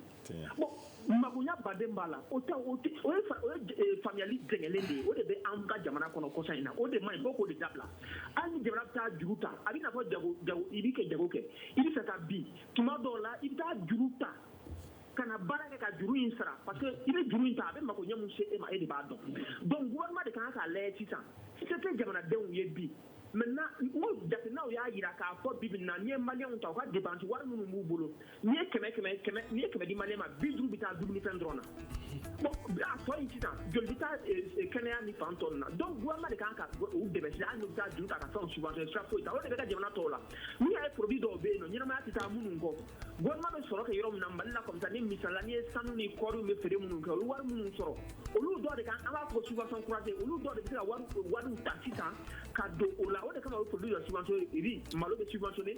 makoya ba de b'a la o ye faamuyali jɛngɛlen de ye o de bɛ an ka jamana kɔnɔ kɔsa in na o de ma bɔ k'o de dabila hali ni jamana bɛ taa juru ta a b'i n'a fɔ jago i bɛ ka jago kɛ i bɛ fɛ ka bin tuma dɔw la i bɛ taa juru ta ka na baara kɛ ka juru in sara parce que i bɛ juru in ta a bɛ mako ɲɛ min se e ma e de b'a dɔn donc gouvernement de kan k'a lajɛ sisan se tɛ jamanadenw ye bi maintenant n'u jateminɛw y'a jira k'a fɔ bi bi in na n'i ye maliyɛnw ta u ka dépense wari minnu b'u bolo n'i ye kɛmɛ kɛmɛ kɛmɛ n'i ye kɛmɛ di maliyɛn ma bi duuru bɛ taa dumunifɛn dɔrɔn na bon a tɔ in sisan joli bɛ taa eh, eh, kɛnɛya ni fan tɔ na donc gouvernement de kan ka u dɛmɛ sisan hali n'u bɛ taa juru ta ka fɛnw subventionner sira foyi t'a la o de bɛ kɛ jamana tɔw la n'u y'a ye produit dɔw bɛ yen n'o ɲɛnamaya tɛ taa minnu kɔ gouvernement bɛ sɔrɔ kɛ yɔrɔ min na Mali la comme sanu misali la n'i ye sanu ni kɔɔriw bɛ feere minnu kɛ olu wari minnu sɔrɔ olu dɔw de kan an b'a fɔ subvention croisée olu dɔw de bɛ se ka wari wariw ta sisan ka don o la o de kama u bɛ produit dɔ subventionner riz malo bɛ subventionner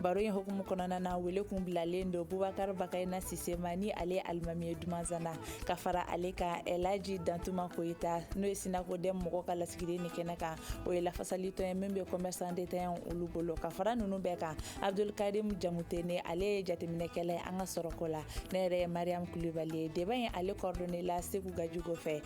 baro in hukumu kɔnɔna na wele kun bilalen don bubakar bakayina sise ma ni ale ye alimami ye dumanzana ka fara ale kan elaji dantuma koyita n'o ye sinakodɛm mɔgɔ ka lasigiden nin kɛnɛ kan o ye lafasalitɔn ye min bɛ commerçant détaillant olu bolo ka fara nunu bɛɛ kan abdulkarim jamutene ale ye jateminɛkɛla ye an ka sɔrɔko la ne yɛrɛ ye mariam kulibali ye débat in ale coordonné la seku gajigo fɛ